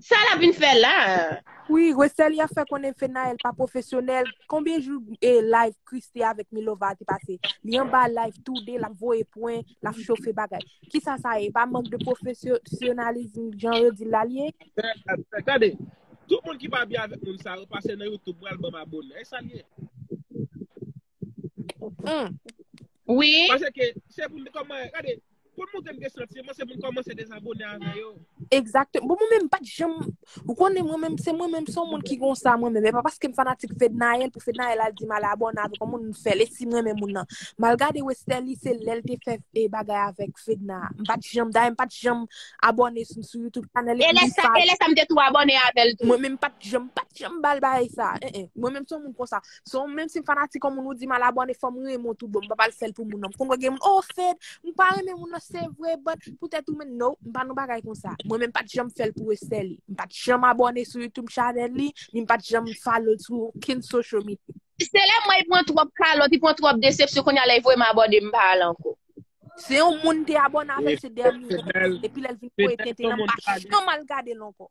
Sa lap vin fè la? Wi Westerlie fè konnen Phenaëlle pa pwofesyonèl, konbyen jou e live Christie avèk Milova a te pase, li anba live tou 2 lap voye pwen, lap chofe bagay. Kisa sa ye, e pa mank de pwofesyonalism jan yo dil la li ye? Tande, tout moun ki pa byen avèk moun sa yo pase nan YouTube pral banm abone, e sa l ye? Wi. Pase ke se pou m koman, gade, pou m montre m gen santiman se pou m komanse dezabone avè yo. Exactement. Bon mwen menm pat janm ou konnen mwen menm se mwen menm son moun ki konsa mwen menm e pa paske m fanatik Fednaelle pou Fednaelle al di m al abòne avèk yon moun m fèl e si m renmen moun nan m al gade Westerlie se lèl te fè e bagay avèk Fedna a m pat janm dayè m pat janm abòne sou sou YouTube channel li e lè sa e lè sa m te tou abòne avèl tou mwen menm pat janm pat janm bal bagay sa e e mwen menm son moun konsa Son menm si m fanatik yon moun ou di m al abone fò m renmen w tout bon. M pa pral fè l pou moun nan. M konn wè gen moun, oh Fed, m pa renmen moun nan se vre but poutèt ou men no, m pa nan bagay konsa. Mwen menm pat janm fè l pou respè li. M pat janm abone sou YouTube channel li, ni m pat janm follow l sou okenn social media. Se lè m wè li pran twòp kalòt, li pran twòp desepsyon kounye a lè li voye m abone m pa al ankò. Se yon moun m te abone avè l se dènye an. Epi lè l vin voye tenten an m pa janm al gade l ankò.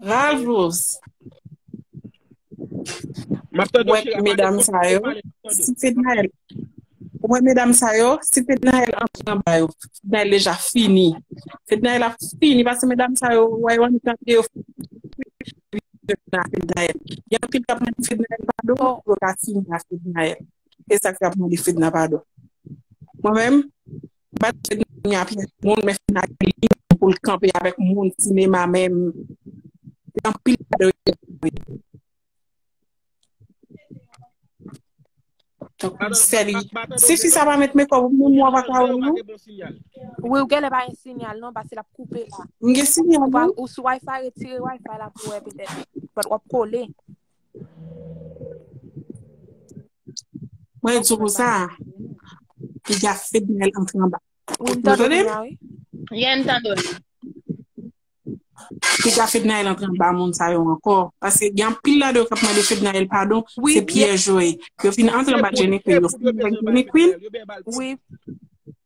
Ravlours. Mwen wè medam sa yo, si Fednaelle, mwen wè medam sa yo, si Fednaelle antre anba yo, Fednaelle deja fini. Fednaelle ap fini paske medam sa yo, wè yo annik nan pye yo. Gen anpil kap mande Fednaelle padon pou yo ka fini ak Fednaelle. E sa ki ap mande Fedna padon. Mwen menm. Bat je Dany a pyès moun men fina gen limit poul k kanpe avèk moun sinema menm li anpil pa dwe gen limit tankou sè li si fi sa pa met mekòp ou menm wap ka wèl non. Wi ou gèlè pa gen sinyal non paske lap koupe la. M gen sinyal wi. Ou sou wifi retire wifi la pou wè petèt. But wap kole. Mwen e tchoukou sa. Ki ja fed nel antre anba. Ou mta do ya wi. Yen mta do ya. Ki ja fed nel antre anba moun sa yo anko. Pase gen pil la do kap mande fed nel padon. Se piye joe. Yo fin antre anba jenny fe yo. Yo ben bal. Wi.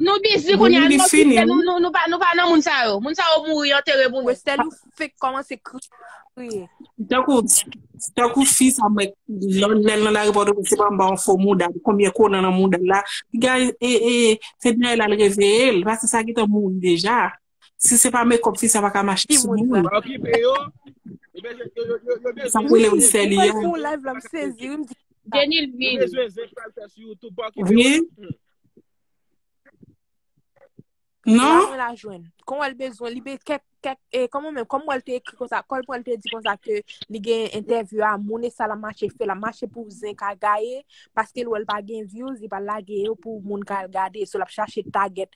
Nou bizi kounye a, nou kite nou, nou pa nou pa nan moun sa yo. Moun sa yo mouri yo antere pou nou. Westel ou fek komanse kriye. Tankou tankou fi sa mwen lèl nan lari pòtoprens se pa anba yon fo mouda konbyen konan nan moudal la piga e e se denyèl al reveyel pase sa gentan mouri deja. Si se pa make up fi sa pa ka mache sou moun. Sa pou le ou fè li ya. Vye. Non. Kon wèl bezwen li be kèk kèk e kon mwen men kon wèl te ekri konsa kòl pou wèl te di konsa ke li gen entèvyou a moun e sa la mache fè la mache pou zen ka gaye paske l wèl pa gen vyouz li pa lage yo pou moun ka al gade sou l ap chache tagèt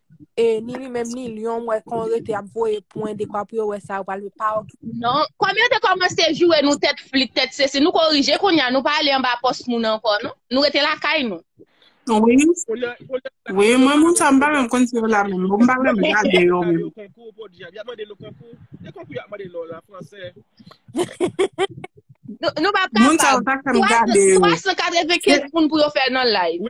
E ni li menm ni Lyon mwen kon rete ap voye pwen dekwa pou yo wè sa yo pral fè pa ok. Non, kòm yo te kòmanse joure nou tèt flit, tèt sesi, nou korije kounya, nou pa ale anba pòs moun ankò non, nou rete lakay nou. Wi, mwen moun sa m pa menm konn si yo la menm, m pa menm gade yo menm. Nou pa kapab, 395 moun pou yo fè nan live.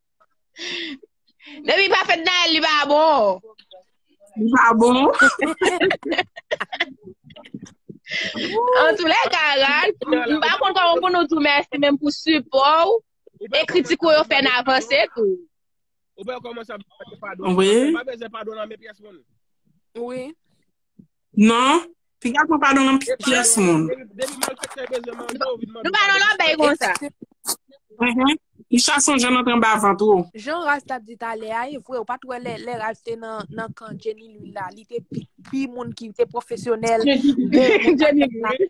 Depi pa fèt nan el li pa bon. Li pa bon. An tou lè ka rad, m pa kon kon pou nou tou mèsi menm pou sipò ou, e kritik ou yo fè nan avanse tou. Ou bè yo koman sa, pa bè zè pa do nan men pyès moun. Ou bè yo koman sa, pa bè zè pa do nan men pyès moun. Non, piga pran padon nan pyès moun. Depi malfektè bezwen manje, ou vin mande Nou pa nou lan bay padon. konsa. Mhm. Isha son jan antre anba vant ou. Jan Ralph tap di talè a e vre ou pat wè lè lè Ralph te nan nan kan Jenny Lule la li te pi pi moun ki te pwofesyonèl Jenny Lule.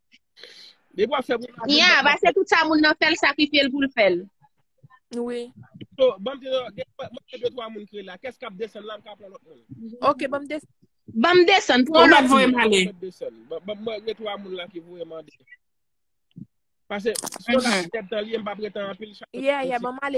Depi wap fè moun la Ya, ba se tout sa moun nan fèl sakrifye l pou l fèl. Wi. So, banm te yo, gen mwen mwen gen 2 3 moun kre la. Kès kap desann la m ka pran lòt moun. Ok, banm des Banm desann, pran Ou lòt mèt voye m moun. ale. Mwen desann. Ban ban mwen gen 3 moun la ki voye mande. Pase, si yo la Mhm. tèt tan liye m pa pretan anpil chak Yeah, yeah, banm ale.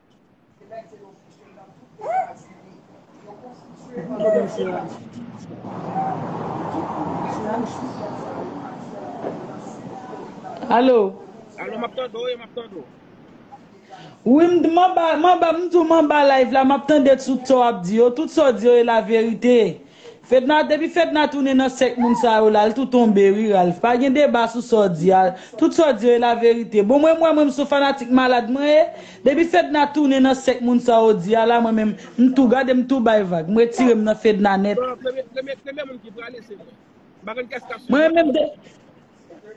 Alo Alo map tande w e map tande w. Wi m t manba manba m di w manba live la map tande tout sa w ap di yo tout sa w di yo e la verite Fedna depi fedna tounen nan sèk moun sa yo la l tou tonbe wi Ralph pa gen deba sou sa w di a tout sa w di yo e la verite bon mwen m wè mwen m son fanatik malad mwen e depi fedna tounen nan sèk moun sa yo di a la mwen menm m tou gade m tou bay vag m retire m nan fedna nèt. Bon premye premye moun ki prale se mwen. M pa konn kès kap swiv mwen.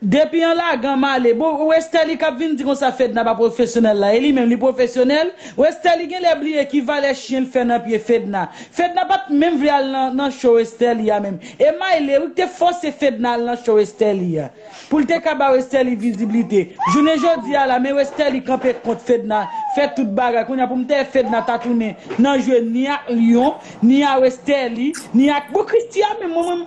Depi an lagan male. Bon westerlie kap vin di konsa fedna pa profesyonèl la e li menm li profesyonèl westerlie genlè bliye ki valè chyen l fè nan pye fedna fedna pat menm vle al nan cho westerlie a menm e mayle wi ki te fòse fedna al nan cho westerlie a pou l te ka ba westerlie viziblite jounen jodi a la men westerlie kanpe kont fedna fè tout bagay kounye a pou m tè fedna ta tounen nan jwe ni ak lion ni a westerlie ni ak bon christie a menm mwen menm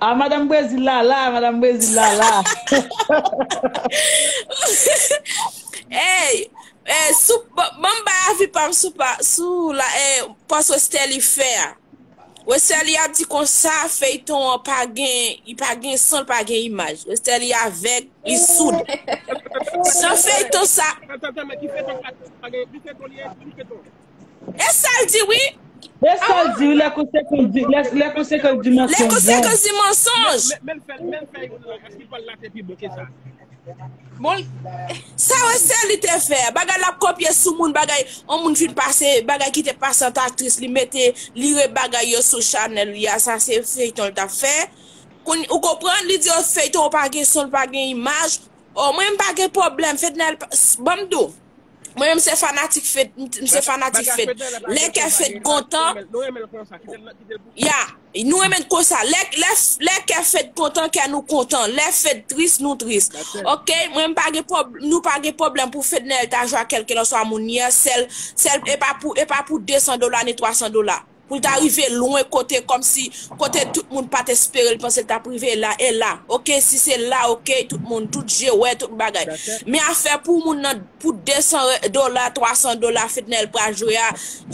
Ah madam brezil la la madam brezil la la. Eyy eh sou banm bay avi pam sou pa sou la eh pòs westerlie fè a westerlie ap di konsa feyton an pa gen li pa gen son li pa gen imaj westerlie avèg li soud jan feyton sa Tantantan men ki feyton sa pa gen ki feyton li ye ki feyton. E sa l di wi. E sa l di wi lè konsekan di mensonj. Lè konsekan di mensonj. Men l fè youn lan èske li pral late pi bon ke sa. Bon sa wè sè li te fè. Bagay l ap kopye sou moun bagay on moun fin pase bagay ki te pase ant aktris li mete li re bagay yo sou chanèl li a sa se feyton l t ap fè. Kounye ou konprann li di yo feyton pa gen son pa gen imaj. O mwen m pa gen pwoblèm fedna banm di w. Mwen menm se fanatik fed, m se fanatik Bagay fed. fed nan lè pa Lè gen kè fed pa fed gen ras kontan, renmen nou renmen l konsa kitel nan kitel pou ya, nou renmen konsa. Lè lè lè kè fed kontan, kè nou kontan. Lè fed tris, nou tris. that's it Ok, mwen m pa gen pwob, nou pa gen pwoblèm pou fednel ta jwe ak kelkelanswa moun yè, sèl sèl epa pou epa pou 200 dola ni 300 dola. pou l ta rive lwen kote kòmsi kote tout moun pat espere l panse l tap rive la e la ok si se la ok tout moun tout je wè tout bagay men afè pou moun nan pou 200 dola 300 dola fednaelle pral jwe a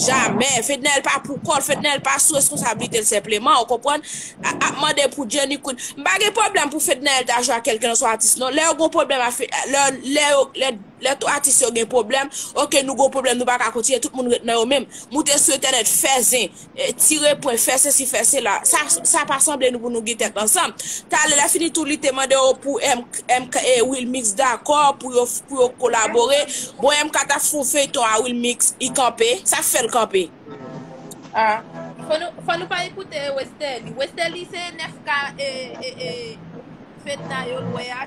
jamè fednaelle pa pou kòl fednaelle pa sou reskonsablite l senpleman ou konprann ap mande pou jenny queen m pa gen pwoblèm pou fednaelle ta jwe ak kèlkelanswa atis non lè yo gon pwoblèm lè yo lè Lè tou atis yo gen pwoblèm, ok nou gon pwoblèm nou pa ka kontinye tout moun ret nan yo menm, moute sou entènèt fè zen, tire pwen, fè sesi fè sela, sa sa pa sanble nou pou nou gen tèt ansanm. Talè lè fini tou li te mande yo pou MK e Wilmix dakò pou yo pou yo kolabore, bon MK ta fon feyton a Wilmix li kanpe, sak fèl kanpe? Ah fò nou fò nou pa ekoute Westerlie, Westerlie se 9 k e e e Fedna yo lwe a.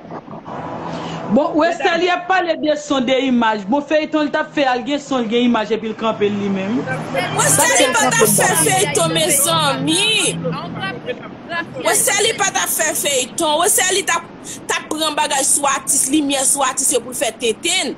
Bon westerlie ap pale de son de imaj bon feyton li tap fè a li gen son li gen imaj epil kanpel li menm. Westerlie pa tap fè feyton mezanmi Westerlie pa tap fè feyton Westerlie tap tap pran bagay sou atis limyè sou atis yo poul fè tenten.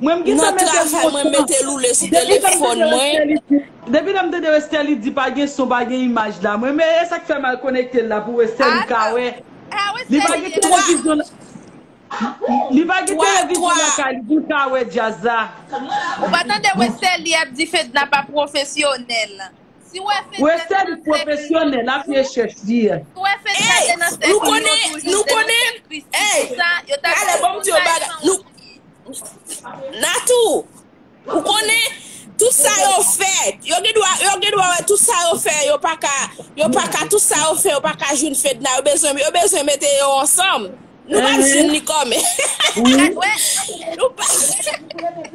Mwen m gentan mete l montan. Depi lèm tande Westerlie di, depi lèm tande Westerlie di pa gen son pa gen imaj la mwen men esak fèm al konekte l la pou Westerlie ka wè. Li pa gen televizyon Li pa gen televizyon lakay li pou l ka wè djaz la. Ou pa tande Westerlie ap di Fedna pa pwofesyonèl. Western profesyonèl ap rechèch li ye. Ey nou konnen nou konnen ey talè banm diw yon bagay nou Nathou ou konnen tout sa yo fè yo gen dwa yo gen dwa wè tout sa yo fè yo paka yo paka tout sa yo fè yo paka jwenn Fedna yo bezwen yo bezwen mete yo ansanm. Nou pa di li kòmè. Nou pa di li.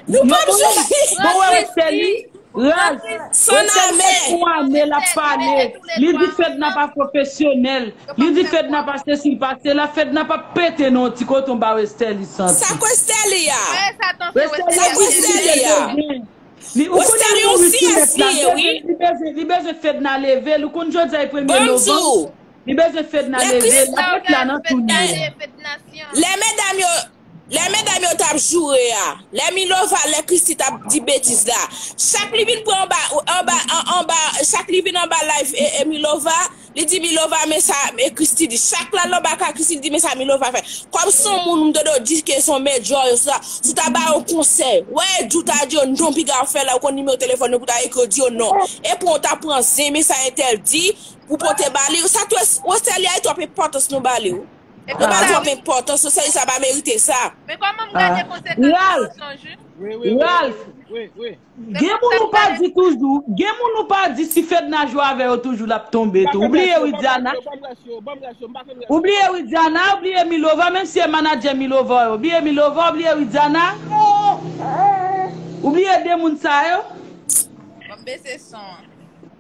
Bon wè wè sè li. Raz. Wè sè li fèk pou ane la pale. Li di fedna pa profesyonèl. Li di fedna pa se si pa se la. Fedna pa pete non ti koton ba wè sè li santi. Sa kwe sè li ya. Wè sè li wè sè li ya. Ou konnen li yon wifti mèt la. Li bezwen fedna leve l. Ou konnen jodi a e premye novanm. Li bezwen fedna Lè leve plis lap ret la nan tou li ye. Lè medam yo Lè medam yo tap joure a Lè milova lè christie tap di betiz la chak li vin pran anba anba anba chak li vin anba live milova li di milova men sa christie di chak lal anba ka christie li di men sa milova fè kòm son moun m dodo di ke son mèdjò yo sa sou ta ba yo konsèy wè di w ta di yo non piga w fè la ou konn nimewo telefòn yo pou ta ekri yo di yo non epou w ta pran zen men sa entèl di Pou pote bali ou sa tou Rosalia e trop enpòtans nou bali ou nou bal trop enpòtans Rosalia pa merite sa. Men kòman m gade konsekans nan mensonj wi. Ralph gen moun ou pa di toujou gen moun ou pa di si fedna jwe avè yo toujou lap tonbe tou ou bliye widiana ou bliye widiana ou bliye milova menm si e manadjè milova ou bliye milova ou bliye widiana ou bliye de moun sa yo. Banm bese son an.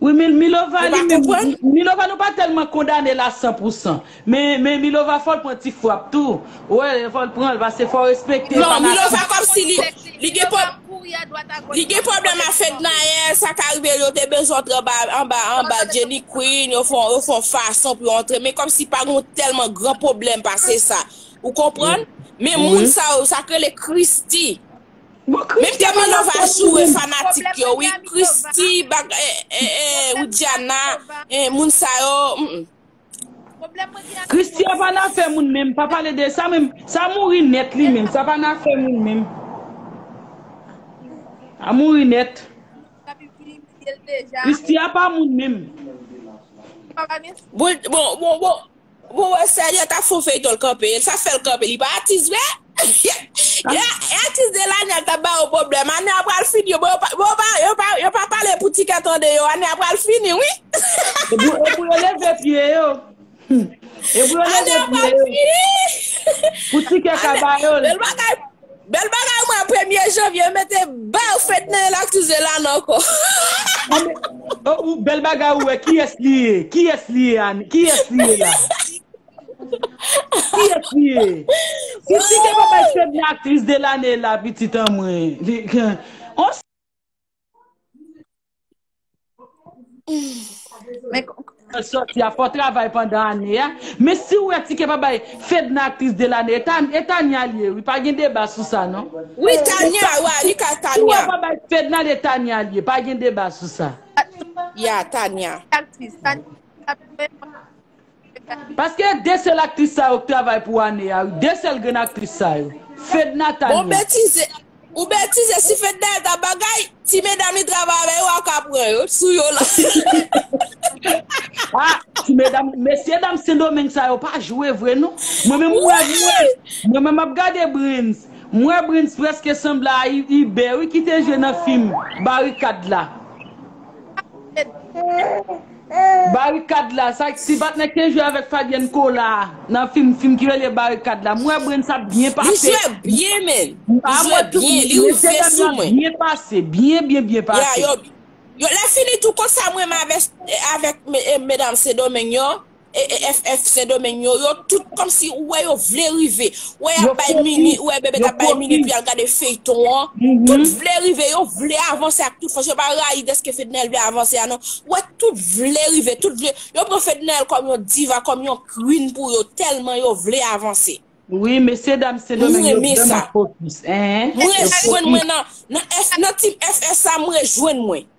Wi milova li menm, milova nou pa tèlman kondane la san pou san, men milova fòl pran ti frap tou, ou wè lè fòl pranl pase fòl respekte fanatik. Non milova kòmsi li gen pwoblèm, li gen pwoblèm a fednaelle sa ka rive yo te bezwen antre anba anba Jenny Queen yo fon yo fon fason pou yo antre men kòmsi pa gon tèlman gran pwoblèm pase sa ou konprann, men moun sa yo sa k rele Christie. Menm Djana Nova joure fanatik yo wi Christy bagay Widiana moun sa yo humm. Christy a pa nan afè moun menm pa pale de sa menm sa mouri nèt li menm sa pa nan afè moun menm a mouri nèt Christy a pa moun menm. Bon bon bon Mwen wè sè Jean tap fon feyton l kanpe e sa fèl kanpe li pa atis vre e atis de lane a tap ba yo pwoblèm ane a pral fini yo pa yo pa pale pou ti kè tande yo ane a pral fini wi e pou yo leve pye yo e pou yo leve pye yo pou ti kè ka ba yo l. Bel bagay mwen premye janvye yo mete baw fèt nan elak sou zelane anko. Bel bagay ou we kiyes li ye kiyes li ye Annie kiyes li ye la kiyes li ye Titi gen babay fed nan aktris de lane la pitit anmwee on Bon travay pandan ane a Men si ou wè tike pa bay Fedna aktris de lane E Tania li ye wi Pa gen deba sou sa non Ou wè pa bay Fedna l e Tania li ye Pa gen deba sou sa Tania Paske e de sel aktris sa yo k travay pou ane a wi de sel grenn aktris sa yo fedna Bon ou tania. betize Ou betize si fedna et ap bagay ti medam li travay avè yo aka pran yo t sou yo la. Ah ti medam mesye dam sendomeng sa yo pa jwe vre non mwen menm mwen mwen mwen menm map gade brens mwen wè brens preske sanble a iber wi kite jwe nan fim barikad la. Barikad la sa ti patnè te jwe avèk Fabienne Cola nan film film ki rele barikad la m wè Brens ap byen Li pase jwe byen menn Li a jwe mwen tou byen Li mesye ouvè dam yo sou ap mwen byen pase byen byen byen Ya pase. yo yo lè fini tou kont sa mwen renmen avè avèk medam sendomeng yo e e ff sendomeng yo yo tout kòmsi ou wè yo vle rive Wè yap bay mimi, wè bebe tap bay mimi pou yal gade feyton an, tout vle rive, yo vle avanse ak tout fòs, yo pa rayi deske fednel vle avanse a non, wè tout vle rive, tout vle, yo pran fednel kòm yon diva, kòm yon queen pou yo, tèlman yo vle avanse. Wi mesye dam sendomeng yo vreman fokis. Mwen rejwenn mwen nan team FSA mwen rejwenn mwen.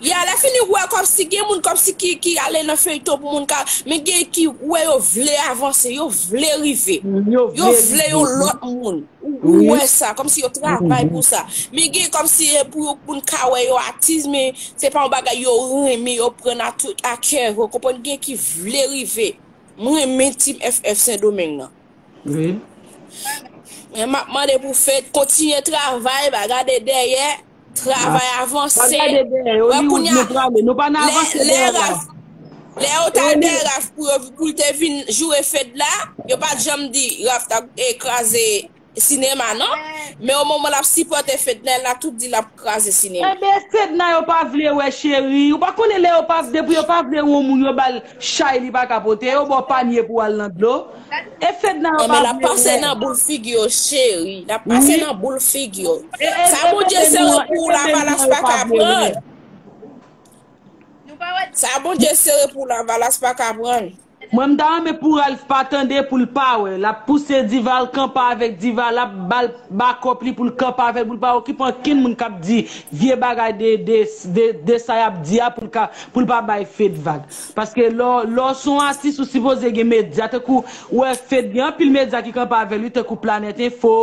Yeah lè fini ou wè kòmsi gen moun kòmsi ki ki ale nan feyton pou moun ka men gen ki ou wè yo vle avanse yo vle rive yo vle yon lòt moun ou wè sa kòmsi yo travay pou sa men gen kòmsi e pou yo moun ka wè yo atiz men se pa yon bagay yo renmen yo pran a tout a kè ou konprann gen ki vle rive m renmen team FF sendomeng nan men map mande pou fed kontinye travay pa gade dèyè. Travay avanse. Wè koun ya. Lè yo ta dè raf pou yo pou te vin joure fed la, yo pa janm di raf ta e kraze sinema non. Men o moman lap sipote fed la, la tout di lap kraze sinema. Ebe fed la yo pa vle wè cheri. Ou pa konnen lè yo pa depi yo pa vle wè moun yo bal. chay li paka pote yo baw panye pou al nan dlo e fedna yo pa vle wè. Wi e mete nou an e mete nou an yo pa vle wè. Mwen m ta renmen pou Ralph pa tande poul pa wè lap pouse diva al kanpe avèk diva lap bal bakòp li poul kanpe avèl poul pa okipe ankenn moun kap di vye bagay de sa yap di a poul ka pou l pa bay Fed vag paske lè w lè w se yon atis ou sipoze gen medya tankou ou wè Fed gen anpil medya ki kanpe avè l wi tankou Planet Info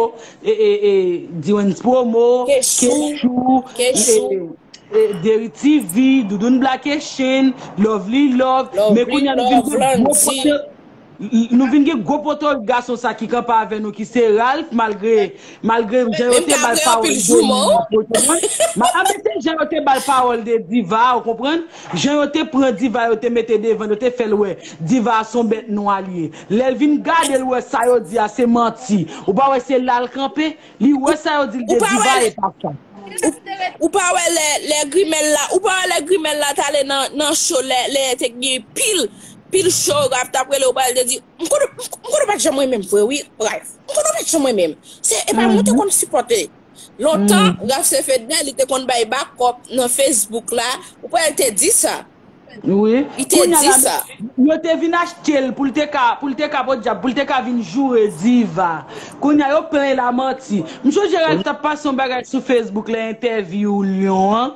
e e e Diwens Promo Kechou e Deri TV Doudoune Blake Chaine Lovely Love men kounye a nou vin gen gwo pote Nou vin gen gwo poto gason sa ki kanpe avè nou ki se Ralph malgre malgre jan yo te bal pawòl de li nan poto an a men se jan yo te bal pawòl de Diva ou konprann jan yo te pran Diva yo te mete devan yo te fèl wè Diva a son bèt nwa li ye lèl vin gadel wè sa yo di a se manti ou pa wè se lal kanpe li wè sa yo dil de Diva e pa sa. Ou pa wè lè grimèl la ou pa wè lè grimèl la tale nan cho lè te gen pil Pil show rap tap rele ou pral te di m konnen m konnen pat janm renmenm vre wi Ralph m konnen ou pat janm renmenm se epa mwen te konn sipote lontan Ralph se Fedna li te konn bay back up nan Facebook la ou pral te di sa wi li te di sa. Yo te vin achtel poul te ka poul te ka podyab poul te ka vin joure Diva kounya yo plen la manti m sonje Ralph tap pase yon bagay sou Facebook lè entèvyou Lion an